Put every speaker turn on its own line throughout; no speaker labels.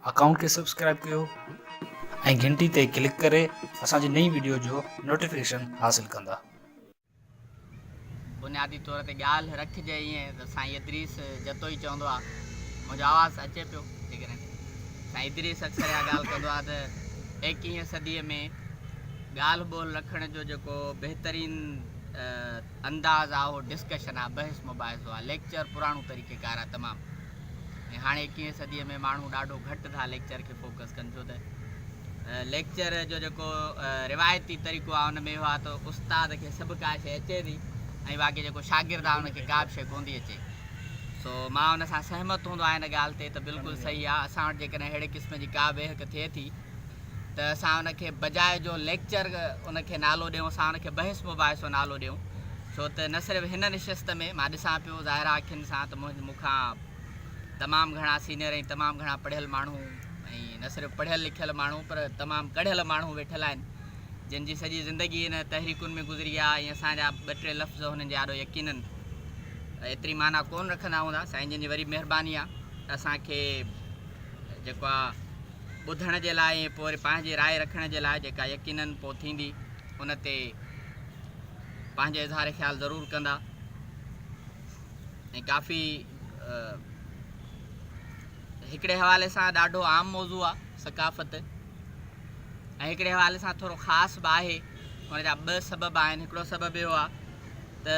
Account کي subscribe ڪيو ۽ گھنٽي تي ڪلڪ ڪري اسان جي نئين وڊيو جو نوٽيفڪيشن حاصل ڪندا.
بنيادي طور تي ڳالهه رکجي ائين ته سائين ادريس جتو ئي چوندو آ منهنجو آواز اچي پيو جيڪڏهن سائين ادريس اڪثر اها ڳالهه ڪندو آ ته ايڪيهين صدي ۾ ڳالهه ٻولهه رکڻ جو جيڪو بهترين انداز آ اهو ڊسڪشن آ، بحث مباحثو آ، ليڪچر پراڻو طريقه ڪار آ تمام ۽ هاڻي ايڪويهين صديء ۾ ماڻهو ڏاڍو گهٽ ٿا ليڪچر کي فوڪس ڪن ڇو ته ليڪچر جو جيڪو روايتي طريقو آ ان ۾ اهو آ ته استاد کي سڀ ڪا شيء اچي ٿي ۽ باقي جيڪو شاگرد آ ان کي ڪا به شيء ڪون ٿي اچي سو مان ان سان سهمت هوندو آهيان ان ڳالهه تي ته بلڪل صحيح آ اسان وٽ جيڪڏهن اهڙي قسم جي ڪا به اهڪ ٿئي ٿي ته اسان ان کي بجاء جو ليڪچر ان کي نالو ڏيون اسان ان کي بحث مباحثو نالو ڏيون ڇو ته نه صرف هن نشست ۾ مان ڏسان پيو ظاهرا اکين سان ته منهنجي مون کان تمام گهڻا سينئر ۽ تمام گهڻا پڙهيل ماڻهو ۽ نه صرف پڙهيل لکيل ماڻهو پر تمام ڪڙهيل ماڻهو ويٺل آهن جن جي سڄي زندگي ان تحريڪن ۾ گذري آ ۽ اسان جا ٻه ٽي لفظ هنن جي آڏو يقينن ايتري معنيٰ ڪون رکندا هوندا سائين جن جي وڏي مهرباني آ اسان کي جيڪو آ ٻڌڻ جي لاء ۽ پوء وري پنهنجي راء رکڻ جي لاء جيڪا يقينن پوء ٿيندي ان تي پنهنجو اظهار خيال ضرور ڪندا ۽ ڪافي هڪڙي حوالي سان ڏاڍو عام موضوع آ ثقافت ۽ هڪڙي حوالي سان ٿورو خاص به آهي ان جا ٻه سبب آهن هڪڙو سبب اهو آ ته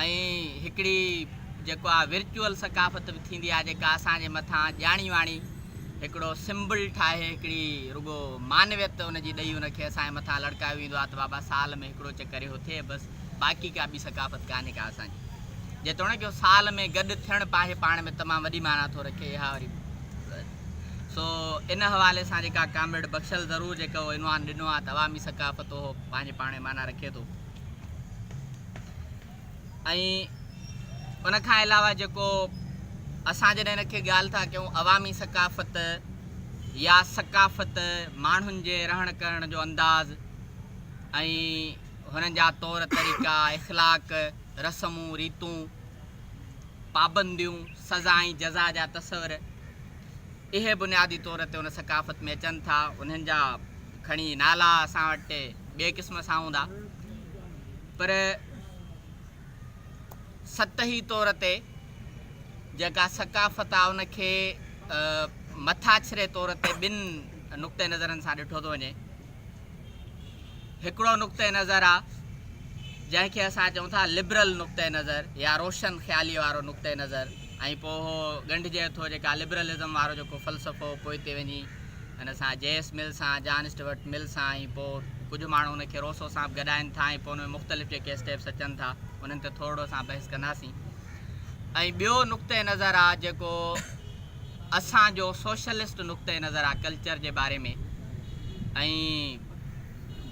۽ هڪڙي جيڪو آ ورچوئل ثقافت به ٿيندي آ جيڪا اسان جي مٿان ڄاڻي واڻي هڪڙو سمبل ٺاهي هڪڙي رڳو معنويت ان جي ڏئي ان کي اسان جي مٿان لڙڪايو ويندو آ ته بابا سال ۾ هڪڙو چڪر اهو ٿئي بس باقي ڪا ٻي ثقافت ڪانهي ڪا اسان جي جيتوڻيڪ اهو سال ۾ گڏ ٿيڻ پاهي پاڻ ۾ تمام وڏي معنيٰ ٿو رکي اها وري سو ان حوالي سان جيڪا ڪامريڊ بخشل ضرور جيڪو عنوان ڏنو آ ته عوامي ثقافت اهو پنهنجي پاڻ ۾ معنيٰ رکي ٿو. ۽ ان کان علاوه جيڪو اسان جڏهن ان کي ڳالهه ٿا ڪيون عوامي ثقافت يا ثقافت ماڻهن جي رهڻ ڪرڻ جو انداز ۽ هنن جا طور طريقا اخلاق رسمون ريتون پابنديون سزا ۽ جزا جا تصور اهي بنيادي طور تي ان ثقافت ۾ اچن ٿا، انهن جا کڻي نالا اسان وٽ ٻئي قسم سان هوندا، پر سطحي طور تي جيڪا ثقافت آ ان کي مٿاڇري طور تي ٻن نقطه نظرن سان ڏٺو ٿو وڃي. هڪڙو نقطه نظر آ جنهن کي اسان چئون ٿا لبرل نقطه نظر يا روشن خيالي وارو نقطه نظر ۽ پوء اهو ڳنڍجي ٿو جيڪا لبرلزم وارو جيڪو فلسفو پوئتي وڃي ان سان جي ايس مل سان جان اسٽورٽ مل سان ۽ پوء ڪجهه ماڻهو ان کي روسو سان به گڏائين ٿا ۽ پوء ان ۾ مختلف جيڪي اسٽيپس اچن ٿا انهن تي ٿورڙو اسان بحث ڪنداسين ۽ ٻيو نقطه نظر آ جيڪو اسان جو سوشلسٽ نقطئه نظر آ ڪلچر جي باري ۾ ۽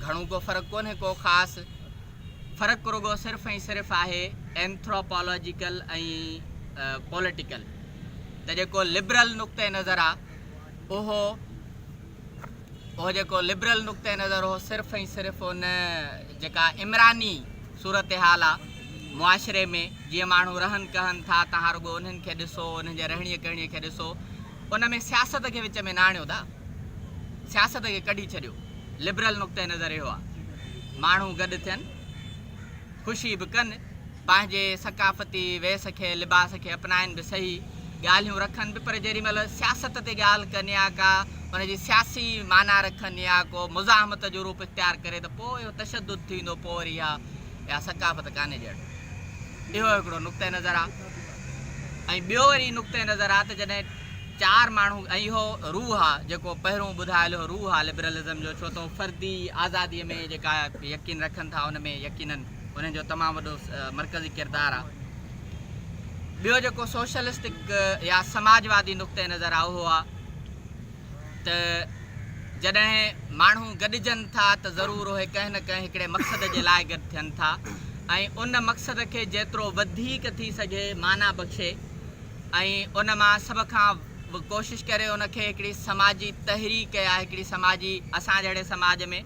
گهڻو ڪو فرق ڪونهي ڪو خاص فرق رڳو صرف ۽ صرف آهي اينٿروپالاجيڪل ۽ پوليٽيڪل ته جيڪو لبرل نقطئه نظر آ اهو اهو جيڪو لبرل نقطه نظر هو صرف ۽ صرف ان جيڪا عمراني صورتحال آ معاشري ۾ جيئن ماڻهو رهن ڪهن ٿا تهان رڳو انهن کي ڏسو انهن جي رهڻي ڪهڻي کي ڏسو ان ۾ سياست کي وچ ۾ نه آڻيو دا سياست کي ڪڍي ڇڏيو لبرل نقطه نظر اهو آ ماڻهو گڏ ٿين خوشي به ڪن پنهنجي ثقافتي ويس کي، لباس کي اپنائن به سهي، ڳالهيون رکن به پر جيڏي مهل سياست تي ڳالهه ڪن يا ڪا ان جي سياسي معنيٰ رکن يا ڪو مزاحمت جو روپ اختيار ڪري ته پوء اهو تشدد ٿي ويندو پوء وري اها اها ثقافت ڪانهي ڄڻ. اهو هڪڙو نقطه نظر آ ۽ ٻيو وري نقطه نظر آ ته جڏهن چار ماڻهو ۽ اهو روح آ جيڪو پهرون ٻڌايل اهو روح آ لبرلزم جو ڇو ته هو فردي آزادي ۾ جيڪا يقين رکن ٿا ان ۾ يقينن انهن جو تمام وڏو مرڪزي ڪردار آ. ٻيو جيڪو سوشلسٽڪ يا سماجوادي نقطئه نظر آ اهو آ ته جڏهن ماڻهو گڏجن ٿا ته ضرور اهي ڪنهن نه ڪنهن هڪڙي مقصد جي لاء گڏ ٿين ٿا ۽ ان مقصد کي جيترو وڌيڪ ٿي سگهي معنيٰ بخشي ۽ ان مان سڀ کان به ڪوشش ڪري ان کي هڪڙي سماجي تحريڪ يا هڪڙي سماجي اسان جهڙي سماج ۾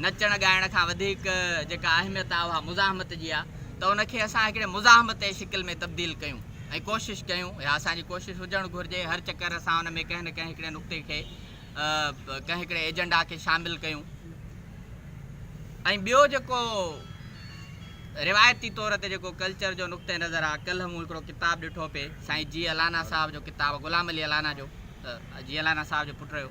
نچڻ ڳائڻ کان وڌيڪ جيڪا اهميت آهي اها مزاحمت جي آهي ته ان کي اسان هڪڙي مزاحمتي شڪل ۾ تبديل ڪيون ۽ ڪوشش ڪيون يا اسان جي ڪوشش هجڻ گهرجي هر چڪر اسان ان ۾ ڪنهن نه ڪنهن هڪڙي نقطي کي ڪنهن هڪڙي ايجنڊا کي شامل ڪيون ۽ ٻيو جيڪو روايتي طور تي جيڪو ڪلچر جو نقطه نظر آهي ڪلهه مون هڪڙو ڪتاب ڏٺو پي سائين جي الانا صاحب جو ڪتاب غلام علي الانا جو جي الانا صاحب جو پٽ رهيو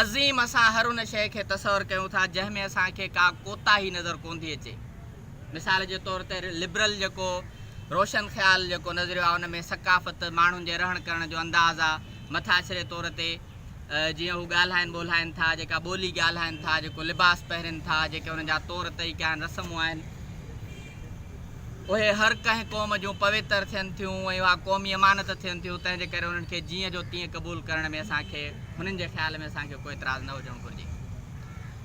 عظيم اسان هر ان شيء کي تصور ڪيون ٿا جنهن ۾ اسان کي ڪا ڪوتاهي نظر ڪونٿي اچي. مثال جي طور تي لبرل جيڪو روشن خيال جيڪو نظريو آهي ان ۾ ثقافت، ماڻهن جي رهڻ ڪرڻ جو انداز آ، مٿاڇري طور تي جيئن هو ڳالهائن ٻولهائن ٿا، جيڪا ٻولي ڳالهائن ٿا، جيڪو لباس پهرين ٿا، جيڪي انهن جا طور طريقا آهن، رسمون آهن. اهي هر ڪنهن قوم جون پويتر ٿين ٿيون ۽ اها قومي امانت ٿين ٿيون، تنهن جي ڪري انهن کي جيئن جو تيئن قبول ڪرڻ ۾ اسان کي هنن جي خيال ۾ اسان کي ڪو اعتراض نه هجڻ گهرجي.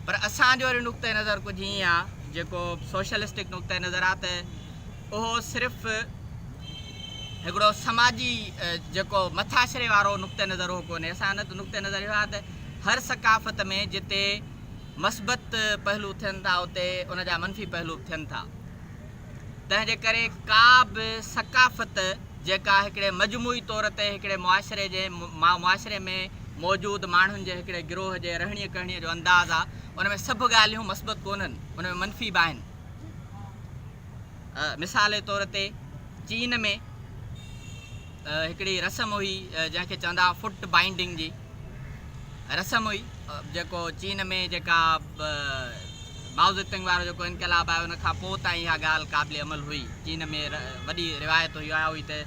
پر اسان جو وري نقطه نظر ڪجهه ائين آ جيڪو سوشلسٽڪ نقطه نظر آ ته اهو صرف هڪڙو سماجي جيڪو مٿاڇري وارو نقطه نظر اهو ڪونهي، اسان جو نقطه نظر اهو آ ته هر ثقافت ۾ جتي مثبت پهلو ٿين ٿا اتي ان جا منفي پهلو به ٿين ٿا تنهن جي ڪري ڪا به ثقافت جيڪا هڪڙي مجموعي طور تي هڪڙي معاشري جي معاشري ۾ موجود ماڻهن جي هڪڙي گروه جي رهڻي ڪهڻي جو انداز آ ان ۾ سڀ ڳالهيون مثبت ڪونهن ان ۾ منفي به آهن مثال جي طور تي چين ۾ هڪڙي رسم هئي جنهن کي چوندا هئا فٽ بائنڊنگ جي رسم هئي جيڪو چين ۾ جيڪا مائوزتنگ وارو جيڪو انقلاب آيو ان کان پوء تائين اها ڳالهه قابل عمل هئي چين ۾ وڏي روايت هئي اها هئي ته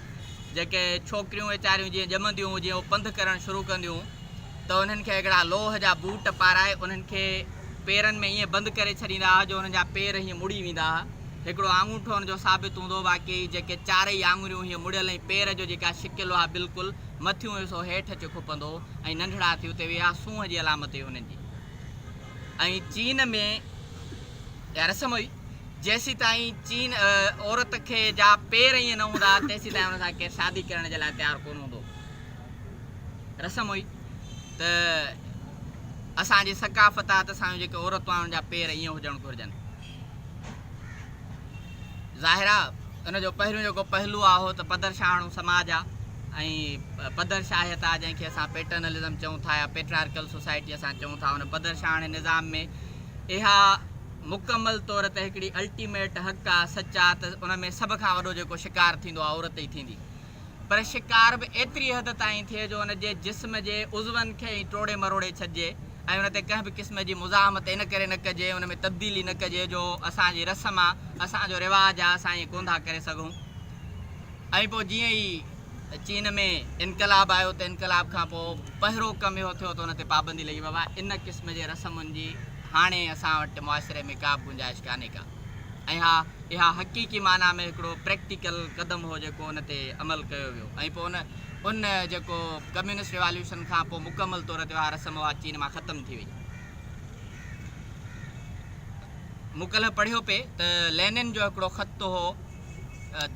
جيڪي ڇوڪريون ويچاريون جيئن ڄمنديون هجين اهو پنڌ ڪرڻ شروع ڪنديون ته انهن کي هڪڙا لوهه جا بوٽ پارائي انهن کي پيرن ۾ ائين بند ڪري ڇڏيندا هئا جو انهن جا پير هيئن مڙي ويندا هئا. هڪڙو آڱوٺو ان جو ثابت هوندو هو باقي جيڪي چارئي آڱريون هيئن مڙيل ۽ پير جو جيڪا شڪل هئا بلڪل مٿيون حصو هيٺ اچي کپندو هو ۽ ننڍڙا ٿي اتي ويهي اها سونهن جي علامت هئي انهن جي ۽ چين ۾ اها رسم هئي جيسيتائين چين عورت کي جا پير ائين نه هوندا هئا تيسيتائين ان سان ڪير شادي ڪرڻ جي لاء تيار ڪونه هوندو هو. رسم هئي ته اسان جي ثقافت آ ته اسان جون جيڪي عورتون آهن ان جا پير ائين هجڻ گهرجن ظاهر آ ان جو پهريون جيڪو پهلو آ اهو ته پدر شاهڻو سماج آ ۽ پدر شاهيت آ جنهن کي اسان پيٽرنلزم چئون ٿا يا پيٽرارڪل سوسائٽي اسان چئون ٿا ان پدر شاهڻي نظام ۾ اها مڪمل طور ته هڪڙي الٽيميٽ حق آ سچ آ ته ان ۾ سڀ کان وڏو جيڪو شڪار ٿيندو آ عورت ئي ٿيندي پر شڪار به ايتري حد تائين ٿئي جو ان جي جسم جي عضون کي ئي ٽوڙي مروڙي ڇڏجي ۽ ان تي ڪنهن به قسم جي مزاحمت ان ڪري نه ڪجي ان ۾ تبديلي نه ڪجي جو اسان جي رسم آ اسان جو رواج آ اسان ائين ڪونڌا ڪري سگهون ۽ پوء جيئن ئي چين ۾ انقلاب آيو ته انقلاب کان پوء پهرو ڪم اهو ٿيو ته ان تي پابندي لڳي بابا ان قسم جي رسمن جي هاڻي اسان وٽ معاشري ۾ ڪا به گنجائش ڪانهي ڪا ۽ ها اها حقيقي معنيٰ ۾ هڪڙو پريڪٽيڪل قدم هو جيڪو ان تي عمل ڪيو ويو ۽ پوء ان ان جيڪو ڪميونسٽ ريواليوشن کان پوء مڪمل طور تي اها رسم اها چين مان ختم ٿي وئي. مون ڪلهه پڙهيو پئي ته لينن جو هڪڙو خط هو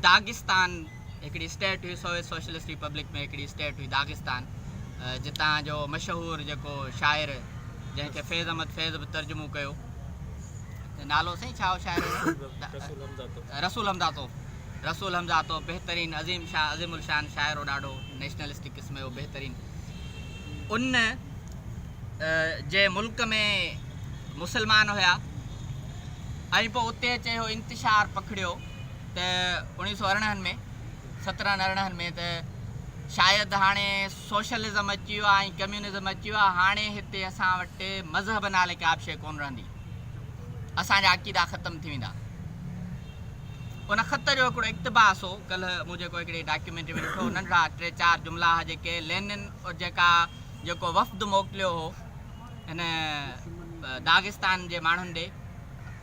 داغستان. هڪڙي اسٽيٽ هئي سوويت سوشلسٽ ريپبلڪ ۾ هڪڙي اسٽيٽ هئي داغستان جتان جو مشهور جيڪو شاعر جنهن کي فيض احمد فيض به ترجمو ڪيو نالو سائين ڇا هو شاعر رسول حمزاتو رسول حمزاتو بهترين عظيم شاہ عظيم الشان شاعر هو ڏاڍو نيشنلسٽڪ قسم جو بهترين ان جي ملڪ ۾ مسلمان هيا ۽ پوء اتي اچي هو انتشار پکڙيو ته اوڻيهه سؤ ارڙهن ۾ سترهن ارڙهن ۾ ته شايد هاڻي سوشلزم اچي ويو آهي ۽ ڪميونزم اچي ويو آهي هاڻي هتي اسان وٽ مذهب نالي ڪا به شيء ڪونه رهندي اسان جا عقيدا ختم ٿي ويندا ان خط جو هڪڙو اقتباس هو ڪلهه مون جيڪو هڪڙي ڊاڪيومينٽري ۾ ڏٺو ننڍڙا ٽي چار جملا هئا جيڪي لينن جيڪا جيڪو وفد موڪليو هو هن داغستان جي ماڻهن ڏي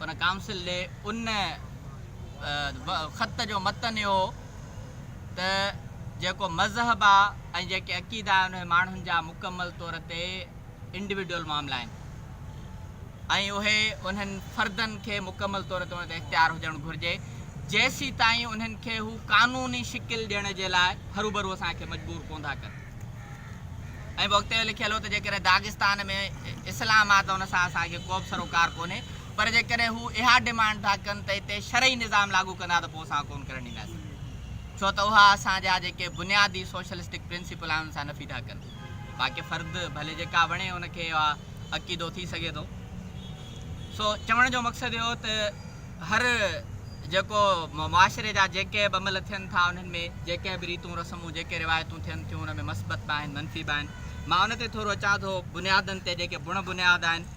ان ڪائونسل ڏي ان خط جو متن اهو هو ته جيڪو مذهب آ ۽ جيڪي عقيدا آهن اهي ماڻهن جا مڪمل طور تي انڊيوڊل معاملا آهن ۽ اهي انهن فردن کي مڪمل طور تي ان تي اختيار هجڻ گهرجي جيسي تائين انهن کي هو قانوني شڪل ڏيڻ جي لاء هروبرو اسان کي مجبور ڪون ٿا ڪن ۽ وقت لکيل هو ته جيڪڏهن داغستان ۾ اسلام آ ته ان سان اسان کي ڪو به سروڪار ڪونهي پر جيڪڏهن هو اها ڊيمانڊ ٿا ڪن ته هتي شرعي نظام لاڳو ڪندا ته پوء اسان ڪونه ڪرڻ ڏينداسين ڇو ته اها اسان جا جيڪي بنيادي سوشلسٽڪ پرنسپل آهن ان سان نفي ٿا ڪن. باقي فرد ڀلي جيڪا وڻي ان کي اها عقيدو ٿي سگهي ٿو. سو چوڻ جو مقصد اهو ته هر جيڪو معاشري جا جيڪي به عمل ٿين ٿا انهن ۾ جيڪي به ريتون رسمون جيڪي روايتون ٿين ٿيون ان ۾ مثبت به آهن منفي به آهن مان ان تي ٿورو اچان ٿو بنيادن تي جيڪي بڻ بنياد آهن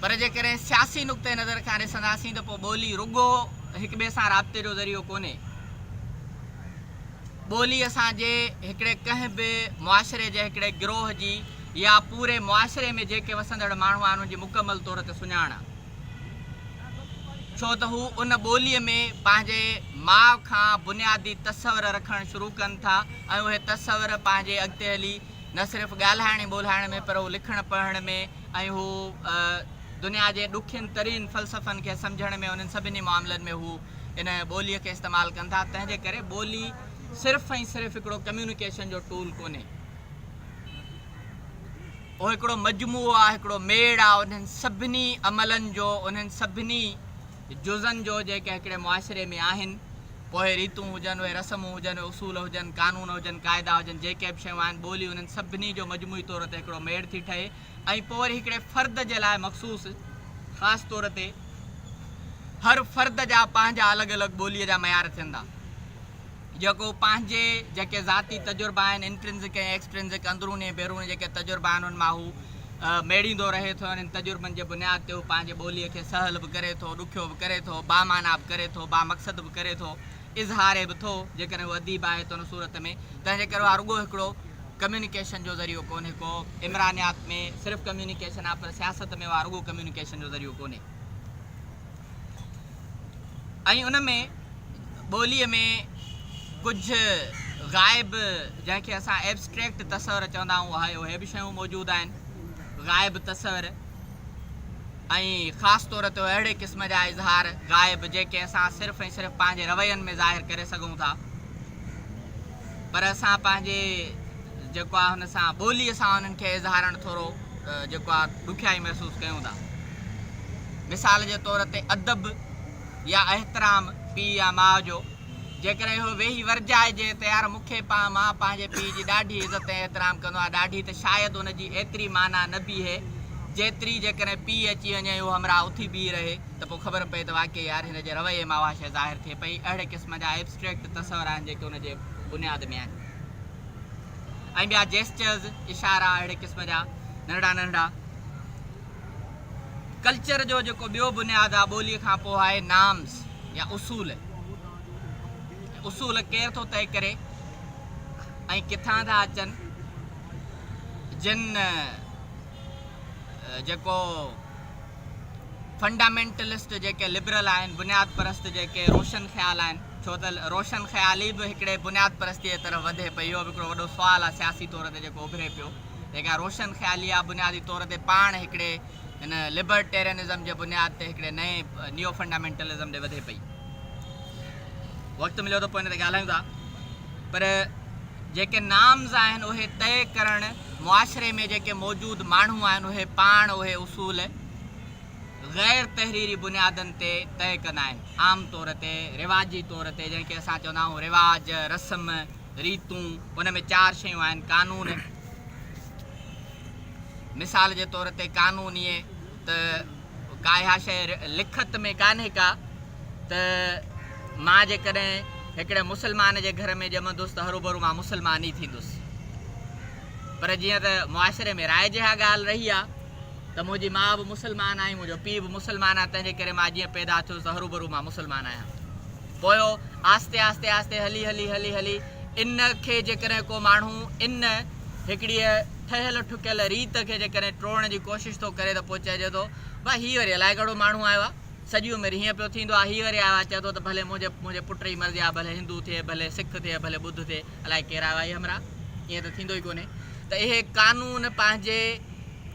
پر جيڪڏهن سياسي نقطه نظر کان ڏسنداسين ته پوء ٻولي رڳو هڪ ٻئي سان رابطي جو ذريعو ڪونهي. ٻولي اسان جي هڪڙي ڪنهن به معاشري جي هڪڙي گروهه جي يا پوري معاشري ۾ جيڪي وسندڙ ماڻهو آهن ان جي مڪمل طور تي سڃاڻ آهي. ڇو ته هو ان ٻولي ۾ پنهنجي ماء کان بنيادي تصور رکڻ شروع ڪن ٿا ۽ اهي تصور پنهنجي اڳتي هلي نه صرف ڳالهائڻ ۽ ٻولهائڻ ۾ پر هو لکڻ پڙهڻ ۾ ۽ هو دنيا جي ڏکين ترين فلسفن کي سمجهڻ ۾ انهن سڀني معاملن ۾ هو ان ٻوليء کي استعمال ڪن ٿا تنهن جي ڪري ٻولي صرف ۽ صرف هڪڙو ڪميونيڪيشن جو ٽول ڪونهي اهو هڪڙو مجموعو آهي هڪڙو ميڙ آهي انهن سڀني عملن جو انهن سڀني جزن جو جيڪي هڪڙي معاشري ۾ آهن، پوء ريتون هجن، اهي رسمون هجن، اهي اصول هجن، قانون هجن، قاعدا هجن، جيڪي به شيون آهن، ٻولي انهن سڀني جو مجموعي طور تي هڪڙو ميڙ ٿي ٺهي ۽ پوء وري هڪڙي فرد جي لاء مخصوص خاص طور تي هر فرد جا پنهنجا الڳ الڳ ٻوليء جا معيار ٿين ٿا. جيڪو پنهنجي جيڪي ذاتي تجربا آهن، Intrinsic ۽ Extrinsic، اندروني ۽ بيروني جيڪي تجربا آهن ان مان هو ميڙيندو رهي ٿو ۽ انهن تجربن جي بنياد تي هو پنهنجي ٻوليء کي سهل به ڪري ٿو، ڏکيو به ڪري ٿو، بامعنيٰ به ڪري ٿو، بامقصد به ڪري ٿو، اظهاري به ٿو، جيڪڏهن هو اديب آهي ته ان صورت ۾ تنهنجي ڪري اها رڳو هڪڙو Communication جو ذريعو ڪونهي ڪو عمرانيات ۾ صرف Communication آهي پر سياست ۾ اها رڳو Communication جو ذريعو ڪونهي. ۽ ان ۾ ٻوليء ۾ ڪجهه غائب جنهن کي اسان ائبسٽريڪٽ تصور چوندا آهيون اهي اهي به شيون موجود آهن غائب تصور ۽ خاص طور تي اهڙي قسم جا اظهار غائب جيڪي اسان صرف ۽ صرف پنهنجي روين ۾ ظاهر ڪري سگهون ٿا پر اسان پنهنجي جيڪو آهي هن سان ٻوليء سان انهن کي اظهارڻ ٿورو جيڪو آهي ڏکيائي محسوس ڪيون ٿا مثال جي طور تي ادب يا احترام پيء يا ماء جو. جيڪڏهن اهو ويهي ورجائجي ته يار مون کي پان مان پنهنجي پيء جي ڏاڍي عزت ۽ احترام ڪندو آهيان ڏاڍي ته شايد ان جي ايتري معنيٰ نه بيهي جيتري جيڪڏهن پيء اچي وڃي ۽ اهو همراهه اٿي بيهي رهي ته پوء خبر پئي ته واقعي يار هن جي رويي مان اها شيء ظاهر ٿئي پئي اهڙي قسم جا ائبسٽريڪٽ تصور آهن جيڪي ان جي بنياد ۾ آهن ۽ ٻيا جيسچرز اشارا اهڙي قسم جا ننڍڙا ننڍڙا ڪلچر جو جيڪو ٻيو بنياد آ ٻوليء کان پوء آهي نامز يا اصول. هي اصول ڪير ٿو طئي ڪري ۽ ڪٿان ٿا اچن؟ جن جيڪو فنڊامينٽلسٽ جيڪي لبرل آهن، بنياد پرست جيڪي روشن خيال آهن، ڇو ته روشن خيالي به هڪڙي بنياد پرستيء طرف وڌي پئي، اهو به هڪڙو وڏو سوال آ سياسي طور تي جيڪو اڀري پيو. جيڪا روشن خيالي آ، بنيادي طور تي پاڻ هڪڙي هن لبرٽيرينزم جي بنياد تي هڪڙي نئين نيو فنڊامينٽلزم ڏي وڌي پئي. وقت مليو ته پوء ان تي ڳالهايون ٿا. پر جيڪي نارمز آهن اهي طئي ڪرڻ معاشري ۾ جيڪي موجود ماڻهو آهن اهي پاڻ اهي اصول غير تحريري بنيادن تي طئي ڪندا آهن. عام طور تي رواجي طور تي جنهن کي اسان چوندا آهيون رواج، رسم، ريتون، ان ۾ چار شيون آهن، قانون، مثال جي طور تي قانون ايئن ته ڪا اها شيء لکت ۾ ڪانهي ڪا ته مان جيڪڏهن هڪڙي مسلمان جي گهر ۾ ڄمندس ته هروڀرو مان مسلمان ئي ٿيندس پر جيئن ته معاشري ۾ رائج اها ڳالهه رهي آهي ته منهنجي ماء به مسلمان آهي، منهنجو پيء به مسلمان آهي، تنهنجي ڪري مان جيئن پيدا ٿيس ته هروڀرو مان مسلمان آهيان. پوء آهستي آهستي آهستي هلي هلي هلي هلي ان کي جيڪڏهن ڪو ماڻهو ان هڪڙيء ٺهيل ٺڪيل ريت کي جيڪڏهن ٽوڙڻ جي ڪوشش ٿو ڪري ته پوء چئجي ٿو بئي هي وري الائي ڪهڙو ماڻهو آيو آهي، سڄي عمر هيئن پيو ٿيندو آهي، هي وري آيو آهي چئي ٿو ته ڀلي منهنجي پٽ جي مرضي آهي ڀلي هندو ٿئي ڀلي سک ٿئي ڀلي ٻڌ ٿئي. الائي ڪير آيو آهي همراهه؟ ائين ته ٿيندو ئي ڪونهي ته اهي قانون پنهنجي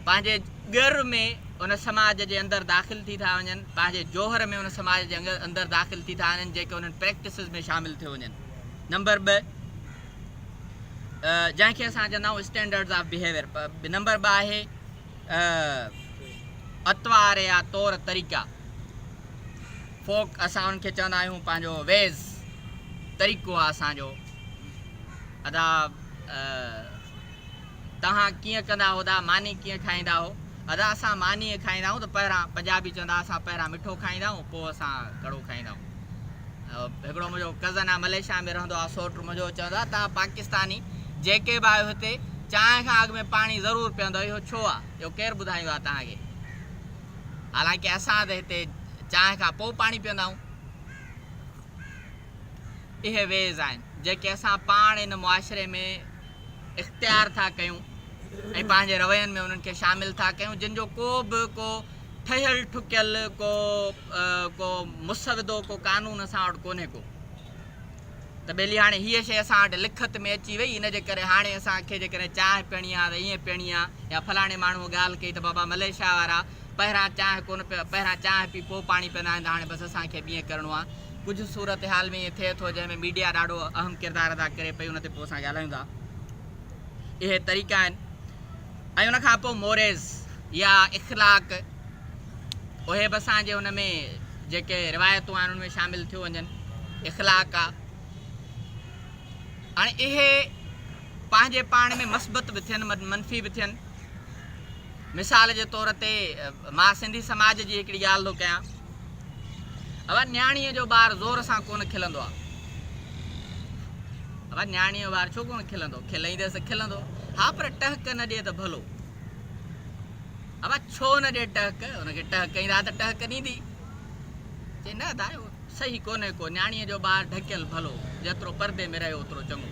پنهنجي ڳر ۾ ان سماج جي اندر داخل ٿي ٿا وڃن، پنهنجي جوهر ۾ ان سماج جي اندر داخل ٿي ٿا وڃن جيڪي انهن پريڪٽسز ۾ شامل ٿيو وڃن. نمبر ٻه جنهن کي اسان چوندا آهيون اسٽينڊرڊز آف بهيويئر نمبر ٻه آهي اطوار يا طور طريقا، Folk، اسان انهن کي چوندا آهيون پنهنجو ويز، طريقو، آهي اسان جو. ادا توهان ڪيئن ڪندا هو ادا؟ ماني ڪيئن کائيندا هو؟ ادا اسان ماني ائين کائيندا آهيون ته پهريان پنجابي چوندا اسان پهريان مٺو کائيندا آهيون پوء اسان ڪڙو کائيندا آهيون. هڪڙو منهنجو ڪزن آ مليشيا ۾ رهندو آ سوٽ منهنجو چوندو آ تان پاڪستاني جيڪي به آهيو هتي چانهه کان اڳ ۾ پاڻي ضرور پيئندو اهو ڇو آ اهو ڪير ٻڌايو آ تان کي حالانڪه اسان ته هتي چانهه کان پو پاڻي پيئندا آهون اهي ويز آهن جيڪي اسان پاڻ ان معاشري ۾ اختيار ٿا ڪيون ۽ پنهنجي روين ۾ انهن کي شامل ٿا ڪيون جن جو ڪو به ڪو ٺهيل ٺڪيل ڪو ڪو مسودو ڪو قانون اسان وٽ ڪونهي ڪو ته ٻيلي هاڻي هيء شيء اسان وٽ لکت ۾ اچي وئي ان جي ڪري هاڻي اسان کي جيڪڏهن چانهه پيڻي آهي ته ائين پيڻي آهي يا فلاڻي ماڻهوء ڳالهه ڪئي ته بابا مليشيا وارا پهران چانهه ڪونه پي پهران چانهه پي پوء پاڻي پيئندا آهن ته هاڻي بس اسان کي به ائين ڪرڻو آهي ڪجهه صورتحال ۾ ائين ٿئي ٿو جنهن ۾ ميڊيا ڏاڍو اهم ڪردار ادا ڪري پئي ان تي پوء اسان ڳالهايون ٿا. اهي طريقا آهن ۽ ان کان پوء موريز يا اخلاق اهي به اسان جي ان ۾ جيڪي روايتون آهن ان ۾ شامل ٿيو وڃن اخلاق آ هاڻي اهي پنهنجي پاڻ ۾ مثبت به ٿين منفي به ٿين مثال جي طور تي مان سنڌي سماج جي هڪڙي ڳالهه ٿو ڪيان اوهان نياڻيء جو ٻار زور سان ڪونه کلندو آ ابا نياڻيء جو ٻار ڇو ڪونه کلندو؟ کلائينديس ته کلندو. ها پر ٽهڪ نه ڏئي ته ڀلو. ابا ڇو نه ڏئي ٽهڪ؟ ان کي ٽهڪ ڪئين ها ته ٽهڪ ڏيندي. چئي نه ادا اهو صحيح ڪونهي ڪو. نياڻيء جو ٻار ڍڪيل ڀلو. جيترو پردي ۾ رهيو اوترو چڱو.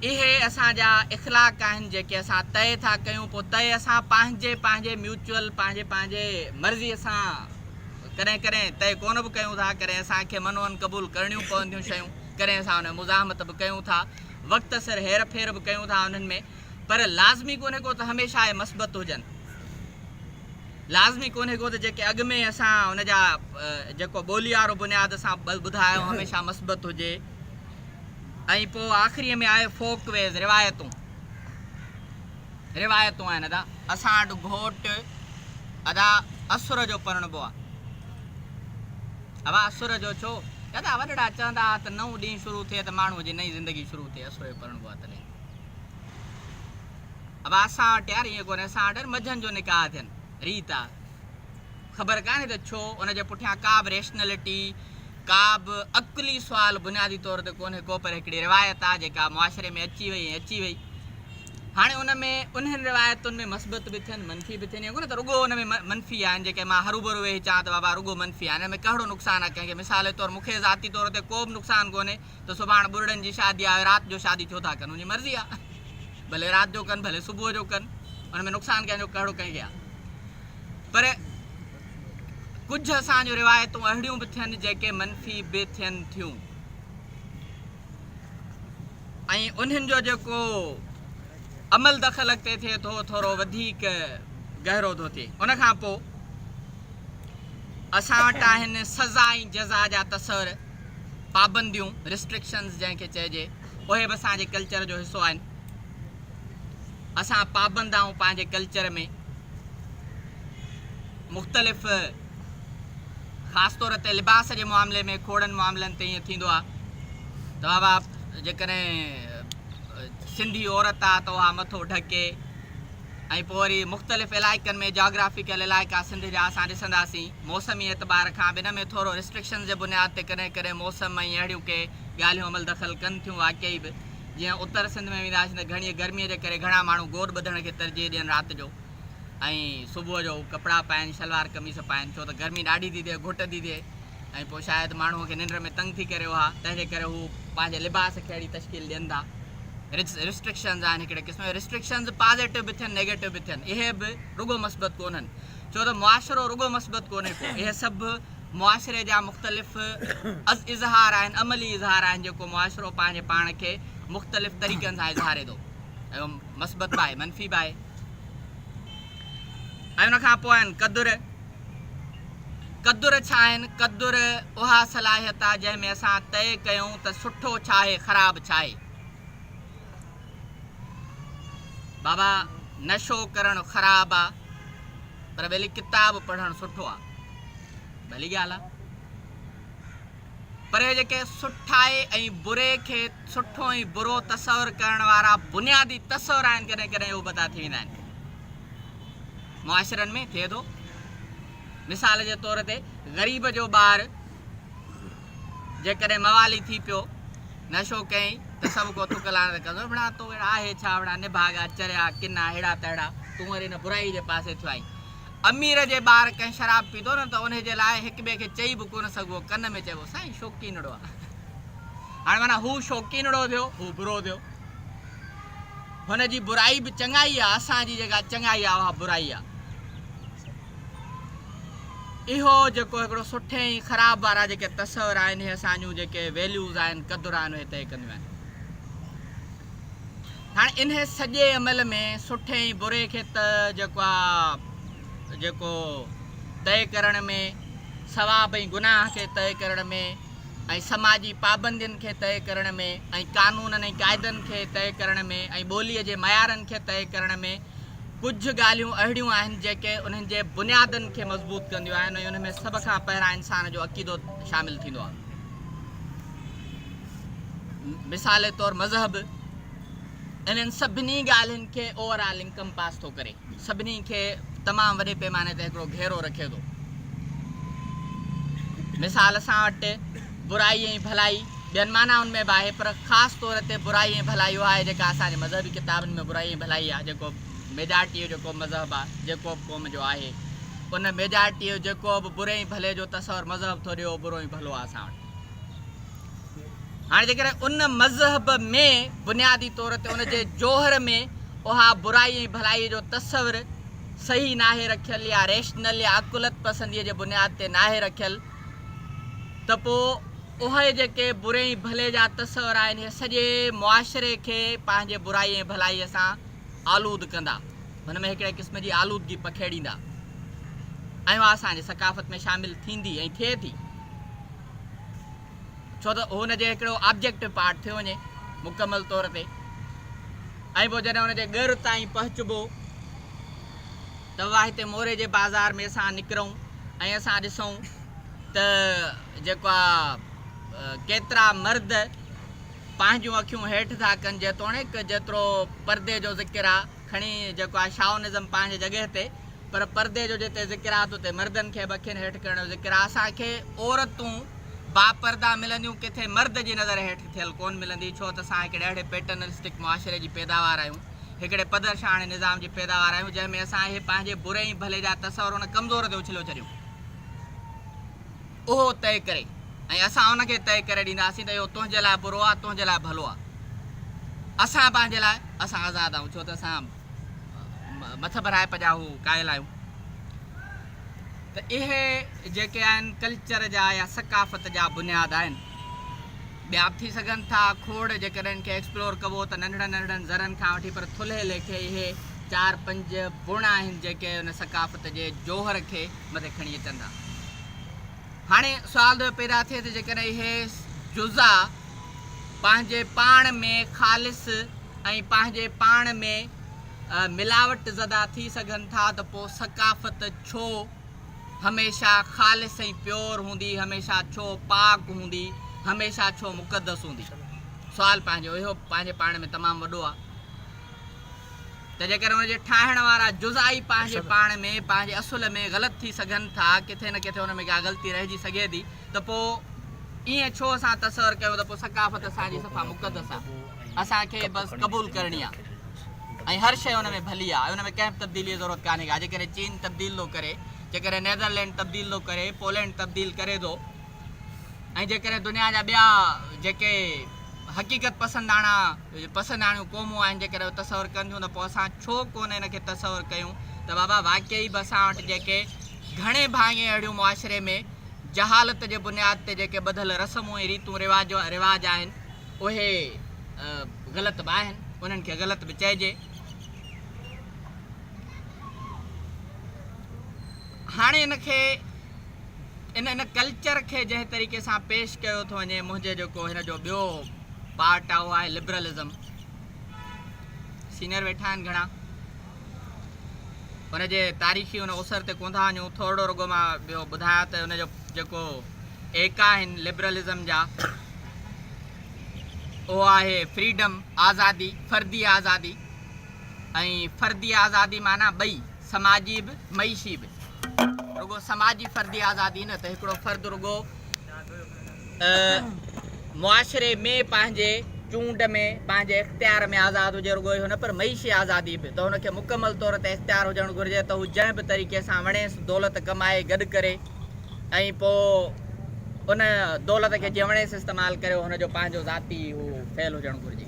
اهي اسان جا اخلاق آهن جيڪي اسان طئي ٿا ڪيون پوء طئي اسان پنهنجي پنهنجي ميوچل پنهنجي پنهنجي مرضيء سان ڪڏهن ڪڏهن طئي ڪونه به ڪيون ٿا، ڪڏهن اسان کي منع ان قبول ڪرڻيون پونديون شيون، ڪڏهن اسان ان ۾ مزاحمت به ڪيون ٿا، وقت سر هير ڦير به ڪيون ٿا انهن ۾، پر لازمي ڪونهي ڪو ته هميشه اهي مثبت هجن، لازمي ڪونهي ڪو ته جيڪي اڳ ۾ اسان ان جا جيڪو ٻولي وارو بنياد اسان ٻڌايو هميشه مثبت هجي ۽ پوء آخريء ۾ آهي فوڪ ويز، روايتون. روايتون آهن ادا. اسان وٽ گهوٽ ادا اسر جو پرڻبو آ. ابا اسر جو ڇو؟ ادا وڏڙا چوندا ها ته نئون ڏينهن شروع ٿئي ته ماڻهوء جي نئين زندگي شروع ٿئي اسر جو پرڻبو آ تڏهن. ابا اسان وٽ يار ائين ڪونهي اسان وٽ منجهند جو نڪاح ٿين ريت آ. خبر ڪانهي ته ڇو ان جي پٺيان ڪا به ريشنلٽي، ڪا به عقلي سوال بنيادي طور تي ڪونهي ڪو پر هڪڙي روايت آ جيڪا معاشري ۾ اچي وئي ۽ اچي وئي. هاڻي ان ۾ انهن روايتن ۾ مثبت به ٿين منفي به ٿين ايئن ڪونهي ته رڳو ان ۾ منفي آهن جيڪي مان هروڀرو ويهي چوان ته بابا رڳو منفي آهن ان ۾ ڪهڙو نقصان آ ڪنهن کي مثال طور مونکي ذاتي طور تي ڪو به نقصان ڪونهي ته سڀاڻ ٻرڙن جي شادي آهي رات جو شادي ڇو ٿا ڪن ان جي مرضي آ ڀلي رات جو ڪن ڀلي صبح جو ڪن ان ۾ نقصان ڪنهن جو ڪهڙو ڪنهن کي آ پر ڪجهه اسان جو روايتون اهڙيون به ٿين جيڪي منفي به ٿين ٿيون ۽ انهن جو جيڪو عمل دخل اڳتي ٿئي ٿو ٿورو وڌيڪ گهرو ٿو ٿئي ان کان پوء اسان وٽ آهن سزا ۽ جزا جا تصور پابنديون Restrictions جنهن کي چئجي اهي به اسان جي ڪلچر جو حصو آهن اسان پابند آهيون پنهنجي ڪلچر ۾ مختلف خاص طور تي لباس جي معاملي ۾ کوڙن معاملن تي ائين ٿيندو آهي ته بابا جيڪڏهن سنڌي عورت آهي ته اها مٿو ڍڪي ۽ پوء وري مختلف علائقن ۾ جاگرافيڪل علائقا سنڌ جا اسان ڏسنداسين موسمي اعتبار کان به ان ۾ ٿورو رسٽرڪشنز جي بنياد تي ڪڏهن ڪڏهن موسم ۽ اهڙيون ڪي ڳالهيون عمل دخل ڪن ٿيون واقعي به جيئن اتر سنڌ ۾ وينداسين ته گهڻيء گرميء جي ڪري گهڻا ماڻهو گوڏ ٻڌڻ کي ترجيح ڏين رات جو ۽ صبح جو ڪپڙا پائين شلوار قميص پائين ڇو ته گرمي ڏاڍي ٿي ٿئي گهٽ ٿي ٿئي. ۽ پوء شايد ماڻهوء کي ننڊ ۾ تنگ ٿي ڪري اها تنهن جي ڪري هو پنهنجي لباس کي اهڙي تشڪيل ڏين ٿا رسٽرڪشنز آهن هڪڙي قسم جا رسٽرڪشنز پازيٽو به ٿين نيگيٽو به ٿين اهي به رڳو مثبت ڪونهن ڇو ته معاشرو رڳو مثبت ڪونهي ڪو اهي سڀ معاشري جا مختلف اظهار آهن عملي اظهار آهن جيڪو معاشرو پنهنجي پاڻ کي مختلف طريقن سان اظهاري ٿو مثبت به آهي منفي به آهي ۽ ان کان پوء آهن قدر قدر ڇا آهن؟ قدر اها صلاحيت آهي جنهن ۾ اسان طئي ڪيون ته سٺو ڇا آهي خراب ڇا آهي. بابا نشو ڪرڻ خراب آ پر ڀلي ڪتاب پڙهڻ سٺو آ ڀلي ڳالهه آ پر اهي جيڪي سٺائي ۽ بري کي سٺو ۽ برو تصور ڪرڻ وارا بنيادي تصور آهن ڪڏهن ڪڏهن اهي ابتا ٿي ويندا آهن. معاشرن ۾ ٿئي ٿو. مثال جي طور تي غريب جو ٻار جيڪڏهن موالي ٿي پيو، نشو ڪيائين ته سڀ ڪو ٿڪ لاڻ ته ڪندو، وڙا تو وڙا آهي ڇا، وڙا نڀاڳا، چريا، ڪنا، ههڙا تهڙا، تون وري ان برائي جي پاسي ٿيو آهين. امير جي ٻار ڪنهن شراب پيتو نه ته انهي جي لاء هڪ ٻئي کي چئي به ڪونه سگهبو، ڪن ۾ چئبو سائين شوقينڙو آهي. هاڻي معنيٰ هو شوقينڙو ٿيو، هو برو ٿيو. هن جي برائي به چڱائي آ، اسان جي جيڪا چڱائي آ اها برائي آ. اهو جيڪو هڪڙو سٺي ۽ خراب وارا جيڪي تصور آهن اهي اسان جون جيڪي ويليوز آهن قدر آهن اهي طئي ڪنديون آهن. هاڻي انهي سڄي عمل ۾ سٺي ۽ بري کي ته جيڪو آ جيڪو طئي ڪرڻ ۾ ثواب ۽ گناهه کي طئي ڪرڻ ۾ ۽ سماجي پابندين کي طئي ڪرڻ ۾ ۽ قانونن ۽ قاعدن کي طئي ڪرڻ ۾ ۽ ٻوليء جي معيارن کي طئي ڪرڻ ۾ ڪجهه ڳالهيون اهڙيون آهن جيڪي انهن جي بنيادن کي مضبوط ڪنديون آهن ۽ ان ۾ سڀ کان پهران انسان جو عقيدو شامل ٿيندو آهي مثال طور مذهب انهن سڀني ڳالهين کي اوور آل انڪمپاس ٿو ڪري. سڀني کي تمام وڏي پيماني تي هڪڙو گهيرو رکي ٿو. مثال اسان وٽ برائي ۽ ڀلائي ٻين معنائن ۾ به آهي پر خاص طور تي برائي ۽ ڀلائي اها آهي جيڪا اسان جي مذهبي ڪتابن ۾ برائي ۽ ڀلائي آهي جيڪو ميجارٽيء جو ڪو مذهب آهي جيڪوب قوم جو آهي ان ميجارٽيء جيڪوب بري ۽ ڀلي جو تصور مذهب ٿو ڏي اهو برو ۽ ڀلو آهي اسان وٽ. هاڻي جيڪڏهن ان مذهب ۾ بنيادي طور تي ان جي جوهر ۾ اها برائي ۽ ڀلائي جو تصور صحيح ناهي رکيل يا ريشنل يا عقلت پسنديء جي بنياد تي ناهي رکيل ته پوء اهي جيڪي بري ۽ ڀلي جا تصور آهن اهي سڄي معاشري کي پنهنجي برائي ۽ ڀلائي سان آلود ڪندا هن ۾ هڪڙي قسم جي آلودگي پکيڙيندا ۽ اها اسان جي ثقافت ۾ شامل ٿيندي ۽ ٿئي ٿي ڇو ته هن جي هڪڙو آبجيڪٽو پارٽ ٿيو وڃي مڪمل طور تي ۽ پوء جڏهن ان جي ڳر تائين پهچبو ته اها هتي موري جي بازار ۾ اسان نڪرون ۽ اسان ڏسون ته جيڪا ڪيترا مرد پنهنجون اکيون هيٺ ٿا ڪن جيتوڻيڪ جيترو پردي جو ذڪر آ کڻي جيڪو آهي شائونزم پنهنجي جڳهه تي پر پردي جو جتي ذڪر آهي ته اتي مردن کي به اکين هيٺ ڪرڻ جو ذڪر آهي اسان کي عورتون با پرده ملنديون ڪٿي مرد جي نظر هيٺ ٿيل ڪون ملندي ڇو ته اسان هڪڙي اهڙي پيٽرنلسٽڪ معاشري جي پيداوار آهيون هڪڙي پدرشاهاڻي نظام جي پيداوار آهيون جنهن ۾ اسان اهي پنهنجي بري ۽ ڀلي جا تصور ان ڪمزور تي اڇليو ڇڏيون. اهو طئي ڪري ۽ اسان ان کي طئي ڪري ڏينداسين ته اهو تنهنجي لاء برو آهي تنهنجي لاء ڀلو آهي. اسان پنهنجي لاء اسان آزاد آهيون ڇو ته اسان مٿ ڀرائپ جا هو قائل آهيون ته اهي جيڪي آهن ڪلچر جا يا ثقافت جا بنياد آهن ٻيا به ٿي سگهن ٿا کوڙ جيڪڏهن ان کي ايڪسپلور ڪبو ته ننڍڙن ننڍڙن ذرن کان وٺي پر ٿلهي ليکي اهي چار پنج بڻ آهن جيڪي ان ثقافت جي جوهر کي مٿي کڻي اچن ٿا. هاڻي سوال ٿو پيدا ٿئي ته جيڪڏهن اهي جزا پنهنجي پاڻ ۾ خالص ۽ پنهنجي پاڻ ۾ ملاوٽ زده ٿي سگهن ٿا ته پوء ثقافت ڇو هميشه خالص ۽ پيور هوندي، هميشه ڇو پاڪ هوندي، هميشه ڇو مقدس هوندي؟ سوال پنهنجو اهو پنهنجي پاڻ ۾ تمام وڏو آهي. ته جيڪڏهن ان جي ٺاهڻ وارا جزئائي پنهنجي پاڻ ۾ پنهنجي اصل ۾ غلط ٿي سگهن ٿا، ڪٿي نه ڪٿي ان ۾ ڪا غلطي رهجي سگهي ٿي، ته پوء ائين ڇو اسان تصور ڪيون ته پوء ثقافت اسان جي صفا مقدس آ، اسان کي بس قبول ڪرڻي آ ۽ هر شيء ان ۾ ڀلي آ ۽ ان ۾ ڪنهن به تبديليء جي ضرورت ڪانهي ڪا. جيڪڏهن چين تبديل ٿو ڪري، جيڪڏهن نيڌرلينڊ تبديل ٿو ڪري، پولينڊ تبديل ڪري ٿو ۽ جيڪڏهن دنيا جا ٻيا جيڪي حقيقت پسنداڻا، اهي جي پسنداڻيون قومون آهن جيڪڏهن اهو تصور ڪن ٿيون ته پوء اسان ڇو ڪو نه ان کي تصور ڪيون ته بابا واقعي به اسان وٽ جيڪي گهڻي ڀاڱي اهڙيون معاشري ۾ جهالت جي بنياد تي جيڪي ٻڌل رسمون ۽ ريتون رواج رواج آهن اهي غلط به آهن انهن کي غلط به چئجي هاڻي ان کي ان ان ڪلچر کي جنهن طريقي سان پيش ڪيو ٿو وڃي منهنجي جيڪو هن جو ٻيو پارٽ آهي اهو آهي لبرلزم سينئر ويٺا آهن گهڻا ان جي تاريخي ان اوسر تي ڪون ٿا وڃون ٿورڙو رڳو مان ٻيو ٻڌايا ته ان جو جيڪو ايڪا آهن لبرلزم جا اهو آهي فريڊم آزادي فردي آزادي ۽ فردي آزادي معنی ٻئي سماجي به معيشي به رڳو سماجي فردي آزادي نه ته هڪڙو فرد رڳو معاشري ۾ پنهنجي چونڊ ۾ پنهنجي اختيار ۾ آزاد هجي رڳو اهو نه پر معيشي آزادي به ته هن کي مڪمل طور تي اختيار هجڻ گهرجي ته هو جنهن به طريقي سان وڻيس دولت ڪمائي گڏ ڪري ۽ پوء ان دولت کي جيئن وڻيس استعمال ڪري هن جو پنهنجو ذاتي هو فعل هجڻ گهرجي.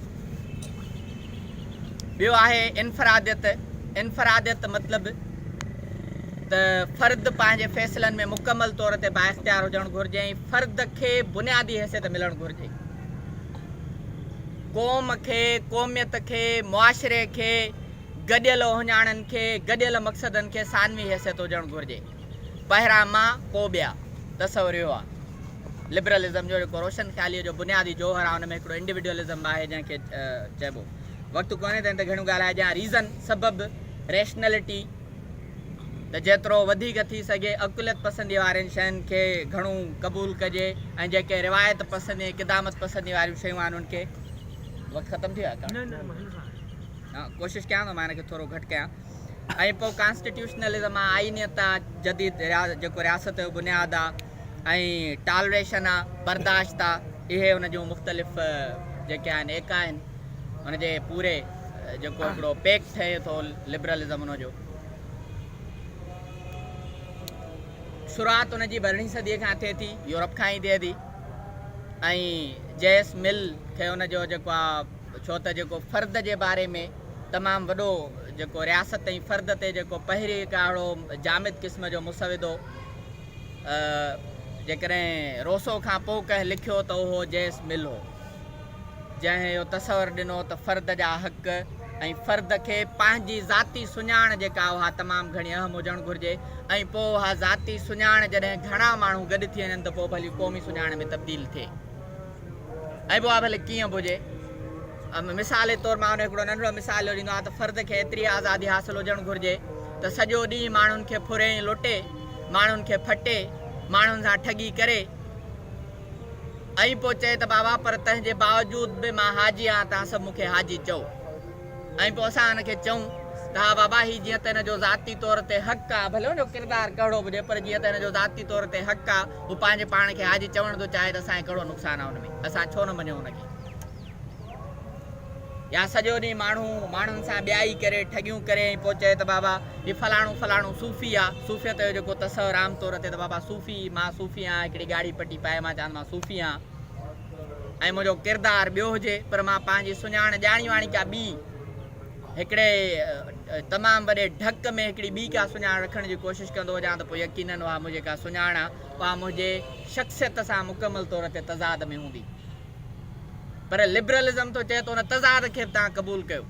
ٻيو آهي انفراديت، انفراديت مطلب ته فرد پنهنجي فيصلن ۾ مڪمل طور تي بااختيار هجڻ گهرجي ۽ فرد کي بنيادي حيثيت ملڻ گهرجي. قوم کي، قوميت کي، معاشري کي، گڏيل اهڃاڻن کي، گڏيل مقصدن کي ثانوي حيثيت هجڻ گهرجي. پهرئان مان پوء ٻيا تصور اهو آهي لبرلزم جو جيڪو روشن خياليء جو بنيادي جوهر آهي ان ۾ هڪڙو انڊيوڊيولزم به آهي جنهن کي چئبو وقت ڪونهي ته ان تي گهڻو ڳالهائي ڄان ريزن سبب ريشنلٽي ته جيترو وڌيڪ ٿي سگهي عقليت پسندي وارين شين کي گهڻو قبول ڪجي ۽ جيڪي روايت پسندي ۽ قدامت پسندي واريون شيون آهن ان کي وقت ختم ٿي ويو آهي ڪا ڪوشش ڪيان ٿو مان ان کي ٿورو گهٽ ڪيان ۽ پوء ڪانسٽيٽيوشنلزم آ، آئينيت آ، جديد جيڪو رياست جو بنياد آ ۽ ٽالريشن آ، برداشت آ، اهي ان جون مختلف جيڪي آهن ايڪا آهن، ان جي پوري جيڪو هڪڙو پيڪ ٺهي ٿو لبرلزم ان جو. شروعات ان جي ٻرڙهين صديء کان ٿئي ٿي، يورپ کان ئي ٿئي ٿي ۽ جي ايس مل کي ان جو جيڪو آ ڇو ته جيڪو فرد جي باري ۾. تمام وڏو جيڪو رياست ۽ فرد تي جيڪو پهريڪ آڙو جامد قسم جو مسودو جيڪڏهن روسو کان پوء ڪنهن لکيو ته اهو جيس مل هو جنهن اهو تصور ڏنو ته فرد جا حق ۽ فرد کي پنهنجي ذاتي سڃاڻ جيڪا اها تمام گهڻي اهم هجڻ گهرجي ۽ پوء اها ذاتي سڃاڻ جڏهن گهڻا ماڻهو گڏ ٿي وڃن ته پوء ڀلي قومي سڃاڻ ۾ تبديل ٿئي. ۽ پوء ڀلي ڪيئن به هجي. مثال جي طور مان هن هڪڙو ننڍڙو مثال جو ڏيندو آهيان ته فرد کي ايتري آزادي حاصل هجڻ گهرجي ته سڄو ڏينهن ماڻهن کي ڦري ۽ لٽي، ماڻهن کي ڦٽي، ماڻهن سان ٺڳي ڪري ۽ پوء چئي ته بابا پر تنهن جي باوجود به مان حاجي آهيان، توهان سڀ مون کي حاجي چئو. ۽ پوء اسان هن کي چئون ته ها بابا هي جيئن ته هن جو ذاتي طور تي حق آهي، ڀلي ان جو ڪردار ڪهڙو به هجي، پر جيئن ته هن جو ذاتي طور تي حق آهي، هو پنهنجي پاڻ کي حاجي چوڻ ٿو چاهي ته اسان کي ڪهڙو نقصان آهي ان ۾، اسان ڇو نه مڃون ان کي. يا سڄو ڏينهن ماڻهو ماڻهن سان ٻيائي ڪري، ٺڳيون ڪري ۽ پوء چئي ته بابا هي فلاڻو فلاڻو صوفي آهي. صوفيت جو جيڪو تصور عام طور تي ته بابا صوفي، مان صوفي آهيان، هڪڙي ڳاڙهي پٽي پائي مان چوان ته مان صوفي آهيان. ۽ منهنجو ڪردار ٻيو هجي پر مان پنهنجي سڃاڻ ڄاڻي واڻي ڪا ٻي هڪڙي تمام وڏي ڍڪ ۾ هڪڙي ٻي ڪا سڃاڻ رکڻ جي ڪوشش ڪندو هجان ته پوء يقينن اها منهنجي ڪا سڃاڻ آ اها منهنجي شخصيت سان مڪمل طور تي تضاد ۾ هوندي پر لبرلزم ٿو چئي ته ان تضاد کي به توهان قبول ڪيو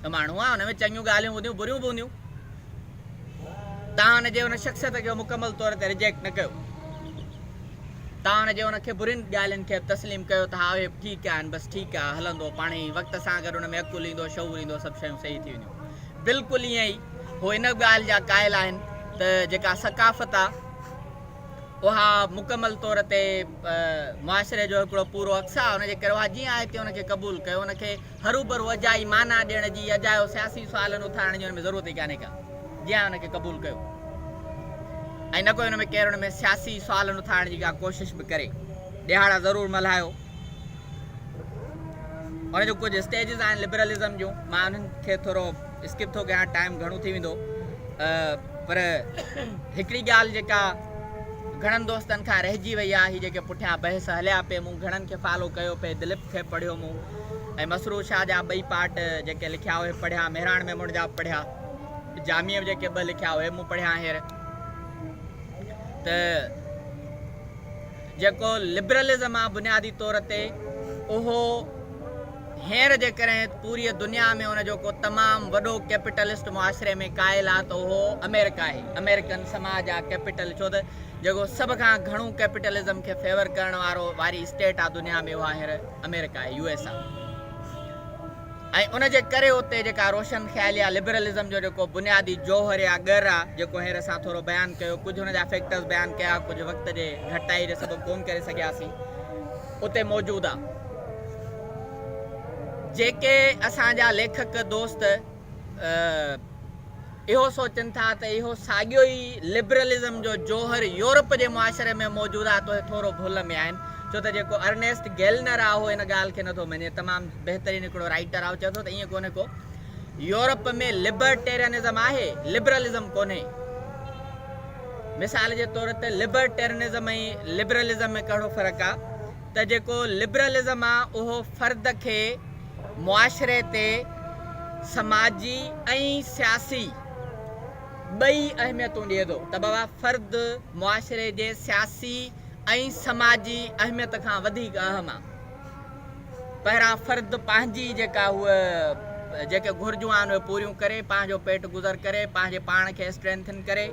ته ماڻهو آ ان ۾ چڱيون ڳالهيون هونديون بريون به هونديون توهان ان جي ان شخصيت کي مڪمل طور تي ريجيڪٽ نه ڪيو تان جو ان کي برين ڳالهين کي به تسليم ڪيو ته ها اهي به ٺيڪ آهن بس ٺيڪ آهي هلندو پاڻهي ئي وقت سان گڏ ان ۾ عقل ايندو شعور ايندو سڀ شيون صحيح ٿي وينديون بلڪل ائين ئي هو ان ڳالهه جا قائل آهن ته جيڪا ثقافت آهي اها مڪمل طور تي معاشري جو هڪڙو پورو عڪس آهي ان جي ڪري اها جيئن آهي تيئن ان کي قبول ڪيو ان کي هروڀرو اجائي معنيٰ ڏيڻ جي اجايو سياسي سوال نه اٿارڻ جي ان ۾ ضرورت ئي ڪانهي ڪا جي آء ان کي قبول ڪيو ۽ نه ڪو ان ۾ ڪير ان ۾ سياسي سوال نه اٿارڻ جي ڪا ڪوشش به ڪري ڏهاڙا ضرور ملهايو ان جو ڪجهه اسٽيجز آهن لبرلزم جون مان انهن کي ٿورو اسڪپ ٿو ڪيان ٽائم گهڻو ٿي ويندو پر هڪڙي ڳالهه جيڪا گهڻن دوستن کان رهجي وئي آهي هي جيڪي پٺيان بحث هليا پئي مون گهڻن کي فالو ڪيو پئي دليپ کي پڙهيو مون ۽ مسرور شاهه جا ٻئي پارٽ جيڪي لکيا اهي پڙهيا، مهراڻ ميمڻ جا به پڙهيا، جاميء به جيڪي ٻه لکيا اهي مون پڙهيا هينئر ته جيڪو لبرلزم آ بنيادي طور تي اهو هينئر جيڪڏهن پوريء دنيا ۾ ان جو ڪو تمام وڏو ڪيپيٽلسٽ معاشري ۾ قائل آ ته اهو آمريڪا آهي، آمريڪن سماج آ ڪيپيٽل ڇو ته جيڪو سڀ کان گهڻو ڪيپيٽلزم کي فيور ڪرڻ وارو واري اسٽيٽ آ دنيا ۾ اها هينئر آمريڪا آهي، USA، ۽ ان جي ڪري اتي جيڪا روشن خيالي يا لبرلزم جو جيڪو بنيادي جوهر يا ڳر آ، جيڪو هينئر اسان ٿورو بيان ڪيو، ڪجهه ان جا فيڪٽرز بيان ڪيا، ڪجهه وقت جي گهٽتائيء جي سبب ڪون ڪري سگهياسين، اتي موجود آ. جيڪي اسان جا ليکڪ دوست. اهو سوچن ٿا ته اهو ساڳيو ئي لبرلزم جو جوهر يورپ جي معاشري ۾ موجود آهي تهي ٿورو ڀل ۾ آهن ڇو ته جيڪو ارنيسٽ گيلنر آهي اهو ان ڳالهه کي نٿو مڃي تمام بهترين هڪڙو رائيٽر آهي چئي ٿو ته ائين ڪونهي ڪو يورپ ۾ لبرٽيرنزم آهي لبرلزم ڪونهي مثال جي طور تي لبرٽيرنزم ۽ لبرلزم ۾ ڪهڙو فرق آهي ته جيڪو لبرلزم آهي اهو فرد کي معاشري تي سماجي ۽ سياسي ٻئي اهميتون ڏئي ٿو ته بابا فرد معاشري جي سياسي ۽ سماجي اهميت کان وڌيڪ اهم آ پهران فرد پنهنجي جيڪا هو جيڪي گهرجون آهن اهي پوريون ڪري پنهنجو پيٽ گذر ڪري پنهنجي پاڻ کي اسٽرينٿن ڪري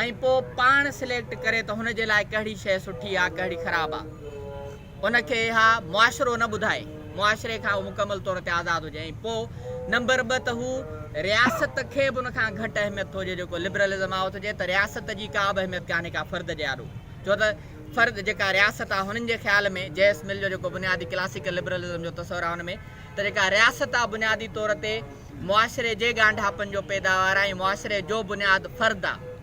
۽ پوء پاڻ سليڪٽ ڪري ته هن جي لاء ڪهڙي شيء سٺي آ ڪهڙي خراب آ ان کي اها معاشرو نه ٻڌائي معاشري کان هو مڪمل طور تي آزاد هجي ۽ پوء نمبر ٻه ته هو رياست کي به ان کان گهٽ اهميت ٿو ڏئي جيڪو لبرلزم آهي اٿجي ته رياست جي ڪا به اهميت ڪانهي ڪا فرد جي آڏو ڇو ته فرد جيڪا رياست آهي هنن جي خيال ۾ جيس مل جو جيڪو بنيادي ڪلاسيڪل لبرلزم جو تصور آهي ان ۾ ته جيڪا رياست آهي بنيادي طور تي معاشري جي ڳانڍاپن جو پيداوار آهي ۽ معاشري جو بنياد فرد آهي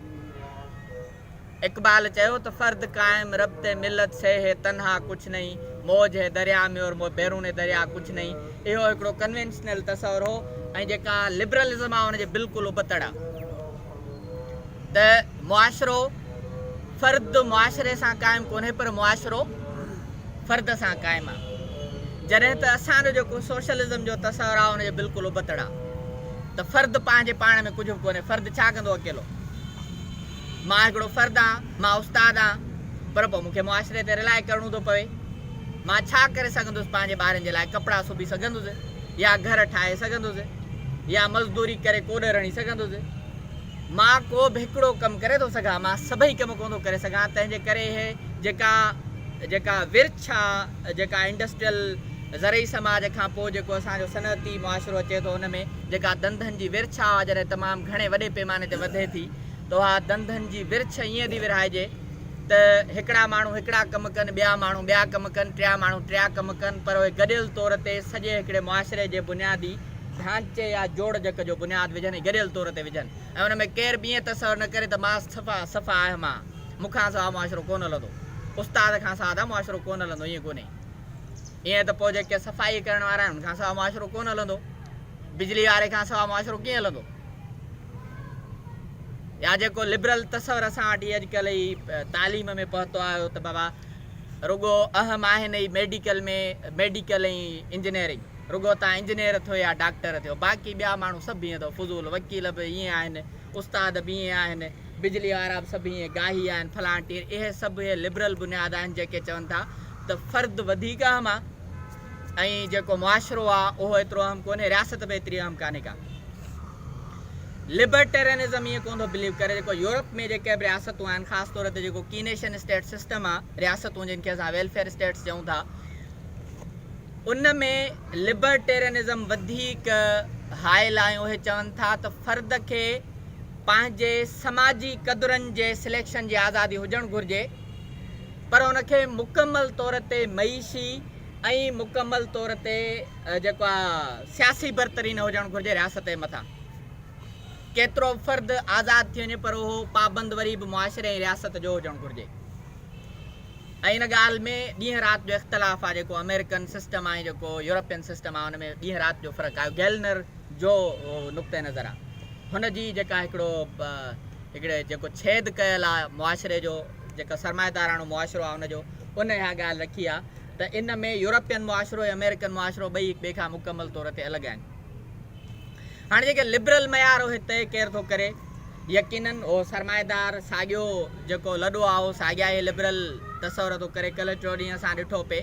اقبال چيو ته فرد قائم ربطه ملت سي هي تنها ڪچھ نهين، موج هي دريا مي اور مو بيرون دريا ڪچھ نهين. اهو هڪڙو ڪنوينشنل تصور هو ۽ جيڪا لبرلزم آهي ان جي بلڪل ابتڙ آهي ته معاشرو فرد معاشري سان قائم ڪونهي پر معاشرو فرد سان قائم آهي جڏهن ته اسان جو جيڪو سوشلزم جو تصور آهي ان جي بلڪل ابتڙ آهي ته فرد پنهنجي پاڻ ۾ ڪجھ به ڪونهي فرد ڇا ڪندو اڪيلو. مان هڪڙو فرد آهان، مان استاد آهان، پر پوء مون کي معاشري تي رلاء ڪرڻو ٿو پوي. مان ڇا ڪري سگهندس، پنهنجي ٻارن جي لاء ڪپڙا سبي سگهندس يا گهر ٺاهي سگهندس يا مزدوري ڪري ڪوڏ رڻي سگهندس. مان ڪو به هڪڙو ڪم ڪري ٿو سگهان، مان سڀئي ڪم ڪونه ٿو ڪري سگهان، تنهن جي ڪري هي جيڪا جيڪا ورڇ آ، جيڪا انڊسٽريل زرعي سماج کان پوء جيڪو اسان جو صنعتي معاشرو اچي ٿو ان ۾ جيڪا ڌنڌن جي ورڇ آ جڏهن تمام گهڻي وڏي پيماني تي وڌي ٿي، توها ڌنڌن جي ورڇ ائين ٿي ورهائجي ته هڪڙا ماڻهو هڪڙا ڪم ڪن، ٻيا ماڻهو ٻيا ڪم ڪن، ٽيا ماڻهو ٽيا ڪم ڪن پر اهي گڏيل طور تي سڄي هڪڙي معاشري جي بنيادي ڍانچي يا جوڙجڪ جو بنياد وجهن ۽ گڏيل طور تي وجهن ۽ ان ۾ ڪير به ائين تصور نه ڪري ته ماس صفا صفا آهي مان مون کان سوا معاشرو ڪونه هلندو استاد کان ساده معاشرو ڪونه هلندو ائين ڪونهي ائين ته پوء جيڪي صفائي ڪرڻ وارا آهن ان کان سوا معاشرو ڪونه هلندو بجلي واري کان سوا معاشرو ڪيئن هلندو. يا جيڪو لبرل تصور اسان وٽ هي اڄڪلهه هي تعليم ۾ پهتو آيو ته بابا رڳو اهم آهن هي ميڊيڪل ۾ ميڊيڪل ۽ انجنيئرنگ رڳو تان انجنيئر ٿيو يا ڊاڪٽر ٿيو باقي ٻيا ماڻهو سڀ هيئن اٿو فضول وڪيل به هيئن آهن استاد به هيئن آهن بجلي وارا به سڀ هيئن گاهي آهن فلان ٽير اهي سڀ هي لبرل بنياد آهن جيڪي چون ٿا ته فرد وڌيڪ اهم آهي ۽ جيڪو معاشرو آهي اهو ايترو اهم ڪونهي رياست به ايتري اهم ڪانهي ڪا لبرٽيرينزم ائين ڪون ٿو بليو ڪري جيڪو يورپ ۾ جيڪي به رياستون آهن خاص طور تي جيڪو ڪينيشن اسٽيٽ سسٽم آهي رياستون جن کي اسان ويلفيئر اسٽيٽس چئون ٿا ان ۾ لبرٽيرينزم وڌيڪ هائل آهي اهي چون ٿا ته فرد کي پنهنجي سماجي قدرن جي سليڪشن جي آزادي هجڻ گهرجي پر ان کي مڪمل طور تي معيشي ۽ مڪمل طور تي جيڪا سياسي برتري نه هجڻ گهرجي رياست جي مٿان ڪيترو به فرد آزاد ٿي وڃي پر اهو پابند وري به معاشري ۽ رياست جو هجڻ گهرجي ۽ ان ڳالهه ۾ ڏينهن رات جو اختلاف آهي جيڪو آمريڪن سسٽم آهي جيڪو يورپين سسٽم آهي ان ۾ ڏينهن رات جو فرق آهي گيلنر جو نقطه نظر آهي هن جي جيڪا هڪڙو هڪڙي جيڪو ڇيد ڪيل آهي معاشري جو جيڪا سرمائيداراڻو معاشرو آهي ان جو ان اها ڳالهه رکي آهي ته ان ۾ يورپين معاشرو ۽ آمريڪن معاشرو ٻئي هڪ ٻئي کان مڪمل طور تي الڳ آهن. هاڻي جيڪي لبرل معيار اهي طئي ڪير ٿو ڪري؟ يقينن اهو سرمائيدار ساڳيو جيڪو لڏو آهي اهو ساڳيا اهي لبرل تصور ٿو ڪري. ڪلهه ٽيو ڏينهن اسان ڏٺو پئي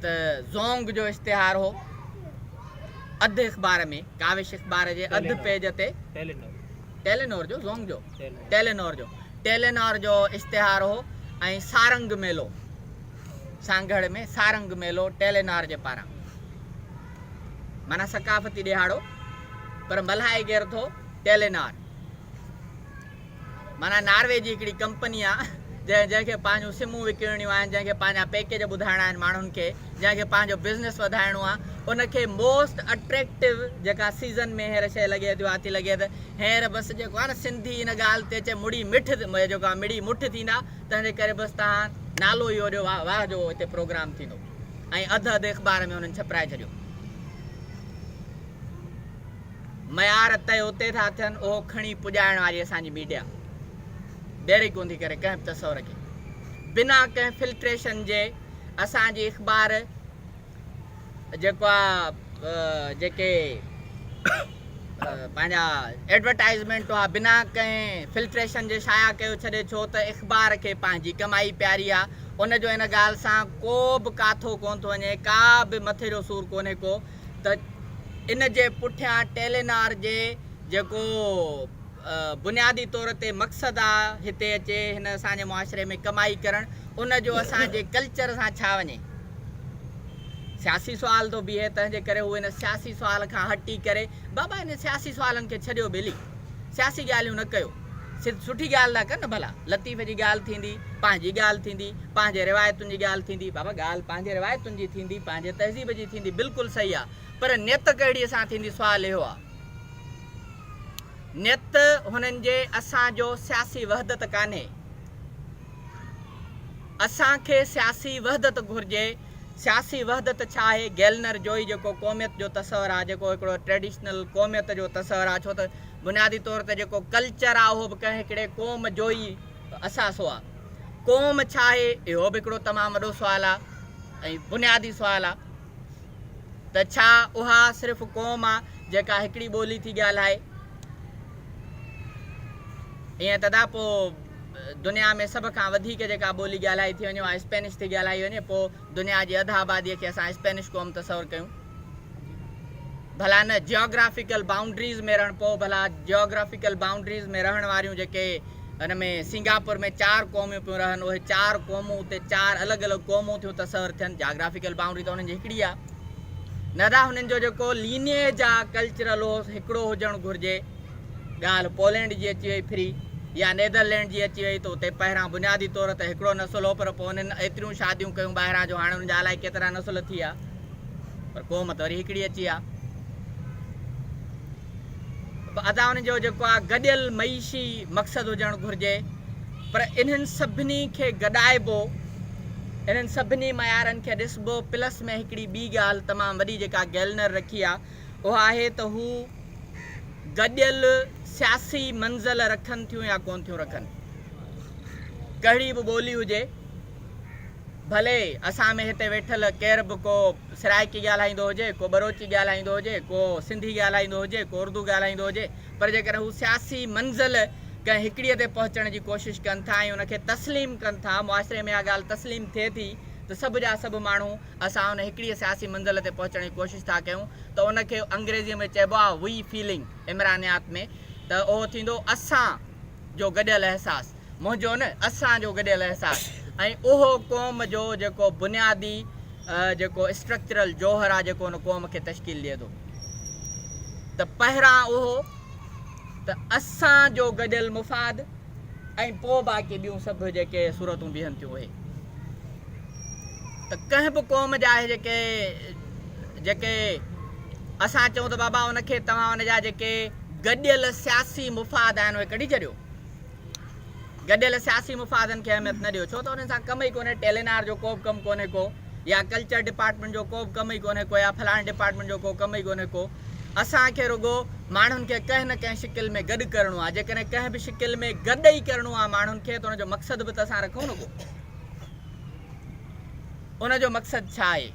ته زونگ جو اشتهار هو اڌ اخبار ۾ ڪاوش اخبار جي اڌ پيج تي. ٽيلينور جو زونگ جو ٽيلينور جو ٽيلينور جو اشتهار هو ۽ سارنگ ميلو سانگهڙ ۾ سارنگ ميلو ٽيلينار جي پاران مانا ثقافتي ڏيهاڙو پر ملهائي ڪير ٿو ٽيلينار مانا ناروي جي هڪڙي ڪمپني آ جنهن جنهن کي پنهنجون سمون وڪڻڻيون آهن جنهن کي پنهنجا پيڪيج ٻڌائڻا آهن ماڻهن کي جنهن کي پنهنجو بزنس وڌائڻو آ ان کي موسٽ اٽريڪٽو جيڪا سيزن ۾ هينئر شيء لڳي ٿي اها ٿي لڳي ته هينئر بس جيڪو آ نه سنڌي ان ڳالهه تي چئي مڙي مٺ جيڪو آ مڙي مٺ ٿيندا تنهن جي ڪري بس تنهن نالو اهو ڏيو واه واه جو هتي پروگرام ٿيندو ۽ اڌ اڌ اخبار ۾ انهن ڇپرائي ڇڏيو معيار تي اتي ٿا ٿين اهو کڻي پڄائڻ واري اسان جي ميڊيا ڊيري ڪوندي ڪري ڪنهن به تصور کي بنا ڪنهن فلٽريشن جي اسان جي اخبار جيڪو آ جيڪي پنهنجا ايڊورٽائزمينٽون آ بنا ڪنهن فلٽريشن جي شايع ڪيو ڇڏي ڇو ته اخبار کي پنهنجي ڪمائي پياري آ ان جو ان ڳالهه سان ڪو به ڪاٿو ڪونه ٿو وڃي ڪا به مٿي جو سور ڪونهي ڪو ته ان جي پٺيان ٽيلينار جي جيڪو بنيادي طور تي مقصد آ هتي اچي هن اسان جي معاشري ۾ ڪمائي ڪرڻ ان جو اسان جي ڪلچر سان ڇا وڃي سياسي سوال ٿو بيهي تنهن جي ڪري هو ان سياسي سوال کان هٽي ڪري بابا ان سياسي سوالن کي ڇڏيو ٻيلي سياسي ڳالهيون نه ڪيو سٺي ڳالهه ٿا ڪن ڀلا لطيف جي ڳالهه ٿيندي پنهنجي ڳالهه ٿيندي پنهنجي روايتن جي ڳالهه ٿيندي بابا ڳالهه پنهنجي روايتن جي ٿيندي پنهنجي تهذيب جي ٿيندي بلڪل صحيح آ پر نيت ڪهڙي سان ٿيندي سوال اهو آ نيت هنن جي اسان جو سياسي وحدت ڪانهي. اسان کي سياسي وحدت گهرجي، سياسي وحدت ڇا آهي؟ گيلنر جوئي جيڪو قوميت جو تصور آهي، جيڪو هڪڙو ٽريڊيشنل قوميت جو تصور آهي، ڇو ته بنيادي طور تي جيڪو ڪلچر آهي اهو به ڪنهن هڪڙي قوم جو ئي اثاثو آهي. قوم ڇا آهي؟ اهو به هڪڙو تمام وڏو سوال آهي ۽ بنيادي سوال آهي. ته ڇا اها صرف قوم آ جيڪا هڪڙي ٻولي ٿي ڳالهائي؟ ائين تدا پوء دنيا ۾ سڀ کان وڌيڪ جيڪا ٻولي ڳالهائي ٿي وڃي اها اسپينش ٿي ڳالهائي وڃي پوء دنيا جي اڌ آباديء کي اسان اسپينش قوم تصور ڪيون ڀلا نه جيوگرافيڪل بائونڊريز ۾ رهڻ پوء ڀلا جيوگرافيڪل بائونڊريز ۾ رهڻ واريون جيڪي ان ۾ سنگاپور ۾ چار قوميون پيون رهن اهي چار قومون اتي چار الڳ الڳ قومون ٿيون تصور ٿين جاگرافيڪل بائونڊري ته انهن جي هڪڙي آ ندا هنن جو جيڪو لينيج آ ڪلچرل اهو هڪڙو هجڻ گهرجي ڳالهه پولينڊ جي اچي وئي پھري يا نيدرلينڊ جي اچي وئي ته اتي پهران بنيادي طور ته هڪڙو نسل هو پر پوء انهن ايتريون شاديون ڪيون ٻاهران جو هاڻي انهن جا الائي ڪيترا نسل ٿي ويا پر قوم ته وري هڪڙي اچي آ. به ادا ان جو جيڪو آ گڏيل معيشي مقصد هجڻ گهرجي پر انهن سڀني کي گڏائبو انهن سڀني معيارن کي ڏسبو پلس ۾ هڪڙي ٻي ڳالهه تمام وڏي جيڪا گيلنر رکي آ اها آهي ته هو گڏيل سياسي منزل رکن ٿيون يا ڪون ٿيون رکن ڪهڙي به ٻولي هجي ڀلي اسان ۾ هتي ويٺل ڪير به ڪو سرائڪي ڳالهائيندو هجي، ڪو ٻروچي ڳالهائيندو هجي، ڪو سنڌي ڳالهائيندو هجي، ڪو اردو ڳالهائيندو هجي پر جيڪڏهن هو سياسي منزل ڪنهن هڪڙيء تي پهچڻ جي ڪوشش ڪن ٿا ۽ ان کي تسليم ڪن ٿا، معاشري ۾ اها ڳالهه تسليم ٿئي ٿي ته سڀ جا سڀ ماڻهو اسان ان هڪڙيء سياسي منزل تي پهچڻ جي ڪوشش ٿا ڪيون ته ان کي انگريزيء ۾ چئبو آهي وي فيلنگ عمرانيات ۾ ته اهو ٿيندو اسان جو گڏيل احساس، منهنجو نه اسان جو گڏيل احساس ۽ اهو قوم جو جيڪو بنيادي جيڪو اسٽرڪچرل جوهر آ جيڪو ان قوم کي تشڪيل ڏئي ٿو ته پهران اهو ته اسان جو گڏيل مفاد ۽ پو باقي ٻيون سڀ جيڪي صورتون بيهن ٿيون اهي ته ڪنهن به قوم جا اهي جيڪي جيڪي اسان چئون ته بابا ان کي توهان ان جا جيڪي گڏيل سياسي مفاد آهن اهي ڪڍي ڇڏيو گڏيل سياسي مفادن کي اهميت نه ڏيو ڇو ته انهن سان ڪم ئي ڪونهي ٽيلينار جو ڪو به ڪم ڪونهي ڪو يا ڪلچر ڊپارٽمنٽ جو ڪو به ڪم ئي ڪونهي ڪو يا فلاڻي ڊپارٽمنٽ جو ڪو ڪم ئي ڪونهي ڪو اسان کي رڳو ماڻهن کي ڪنهن نه ڪنهن شڪل ۾ گڏ ڪرڻو آهي جيڪڏهن ڪنهن به شڪل ۾ گڏ ئي ڪرڻو آهي ماڻهن کي ته ان جو مقصد به ته اسان رکون ڪو ان جو مقصد ڇا آهي؟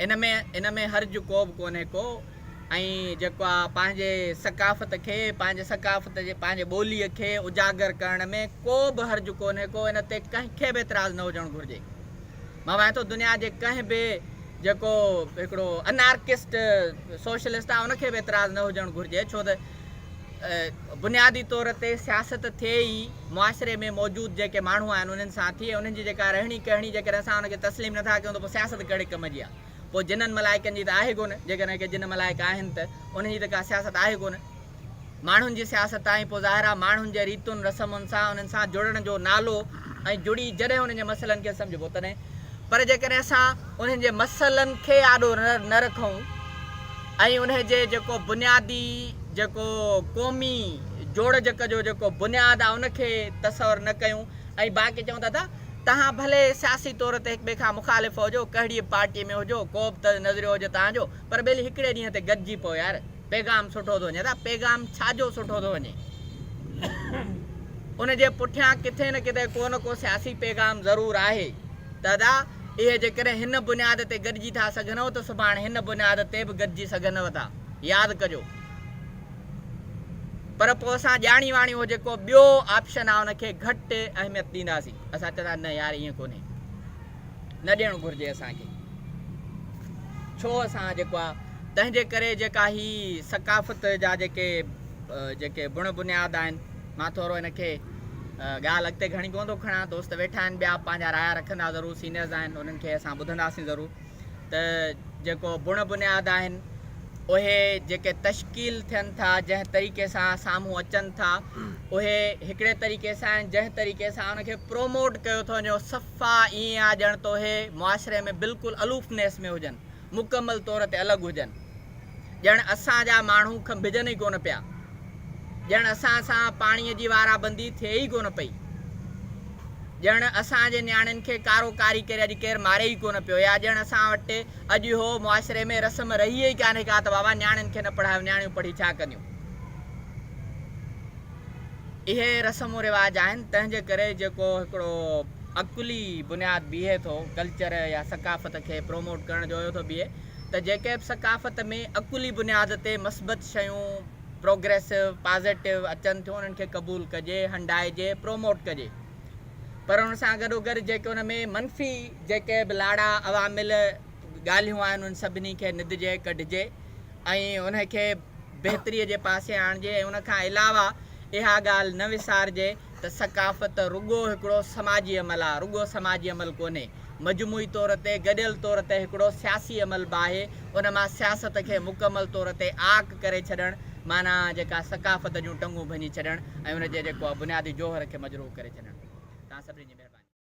ان ۾ ان ۾ حرج ڪوبه ڪونهي ڪو ۽ جيڪو آ پنهنجي ثقافت کي پنهنجي ثقافت جي پنهنجي ٻولي کي اجاگر ڪرڻ ۾ ڪو به حرج ڪونهي ڪو ان تي ڪنهن کي به اعتراض نه هجڻ گهرجي مان وائي ٿو دنيا جي ڪنهن به جيڪو هڪڙو انارڪسٽ سوشلسٽ آ ان کي به اعتراض نه هجڻ گهرجي ڇو ته بنيادي طور تي سياست ٿئي ئي معاشري ۾ موجود جيڪي ماڻهو آهن انهن سان ٿئي انهن جي جيڪا رهڻي ڪهڻي جيڪڏهن اسان ان کي تسليم نٿا ڪيون ته پوء سياست ڪهڙي ڪم جي آهي پوء جنن ملائڪن جي ته آهي ڪونه جيڪڏهن ڪي جن ملائڪ آهن ته انهن جي ته ڪا سياست آهي ڪونه ماڻهن جي سياست آهي پوء ظاهر آهي ماڻهن جي ريتن رسمن سان انهن سان جڙڻ جو نالو ۽ جڙي جڏهن انهن جي مسئلن کي سمجهبو تڏهن پر جيڪڏهن اسان انهن جي مسئلن کي آڏو نه رکون ۽ انهي جي جيڪو بنيادي جيڪو قومي جوڙجڪ جو جيڪو بنياد آ ان کي تصور نه ڪيون ۽ باقي چئون ٿا ته تهان ڀلي سياسي طور تي هڪ ٻئي کان مخالف هجو ڪهڙي به پارٽي ۾ هجو ڪوبه ته نظريو هجي تهان جو پر ٻيلي هڪڙي ڏينهن تي گڏجي پئو يار پيغام سٺو ٿو وڃي ته پيغام ڇا جو سٺو ٿو وڃي ان جي پٺيان ڪٿي نه ڪٿي ڪو نه ڪو سياسي پيغام ضرور آهي ته اهي جيڪڏهن هن بنياد تي گڏجي ٿا سگهنو ته سڀاڻ هن بنياد تي به گڏجي سگهنو ٿا. ياد ڪجو. پر پوء اسان ڄاڻي واڻي اهو جيڪو ٻيو آپشن آهي ان کي گهٽ اهميت ڏينداسين. اسان چوندا نه يار ائين ڪونهي. نه ڏيڻو گهرجي اسان کي. ڇو اسان جيڪو آهي تنهنجي ڪري جيڪا هي ثقافت جا جيڪي جيڪي بڻ بنياد آهن. مان ٿورو هن کي ڳالهه اڳتي گهڻي ڪونه ٿو کڻان دوست ويٺا آهن ٻيا پنهنجا رايا رکندا ضرور سينيئرز آهن انهن کي اسان ٻڌنداسين ضرور ته جيڪو بڻ بنياد آهن اهي جيڪي تشڪيل ٿين ٿا جنهن طريقي سان سامهون اچن ٿا اهي هڪڙي طريقي سان آهن جنهن طريقي سان ان کي پروموٽ ڪيو ٿو وڃي صفا ائين آهي ڄڻ تو اهي معاشري ۾ بلڪل الوفنيس ۾ هجن مڪمل طور تي الڳ هجن. ڄڻ اسان جا ماڻهو کنڀجن ئي ڪونه پيا. ڄڻ اسان سان پاڻيء جي وارابندي ٿئي ئي ڪونه پئي. ڄڻ اسان جي نياڻين کي ڪارو ڪاري ڪري اڄ ڪير ماري ئي ڪونه پيو يا ڄڻ اسان وٽ اڄ اهو معاشري ۾ رسم رهي ئي ڪانهي ڪا ته بابا نياڻين کي نه پڙهايو نياڻيون پڙهي ڇا ڪنديون. اهي رسم و رواج آهن تنهن جي ڪري جيڪو هڪڙو عقلي بنياد بيهي ٿو ڪلچر يا ثقافت کي پروموٽ ڪرڻ جو اهو ٿو بيهي ته جيڪي به ثقافت ۾ عقلي بنياد تي مثبت شيون پروگريسو پازيٽو اچن ٿيون انهن کي قبول ڪجي هنڊائجي پروموٽ ڪجي پر ان سان گڏو گڏ جيڪي ان ۾ منفي جيڪي به لاڙا عوامل ڳالهيون آهن انهن سڀني کي ندجي ڪڍجي ۽ ان کي بهتري جي پاسي آڻجي ۽ ان کان علاوه اها ڳالهه نه وسارجي ته ثقافت رڳو هڪڙو سماجي عمل آهي، رڳو سماجي عمل ڪونهي، مجموعي طور تي، گڏيل طور تي هڪڙو سياسي عمل به آهي، ان مان سياست کي مڪمل طور تي عاق ڪري ڇڏڻ معنيٰ جيڪا ثقافت جون ٽنگون ڀڃي ڇڏڻ ۽ ان جي جيڪو آهي بنيادي جوهر کي مجروح ڪري ڇڏڻ. توهان سڀني جي مهرباني.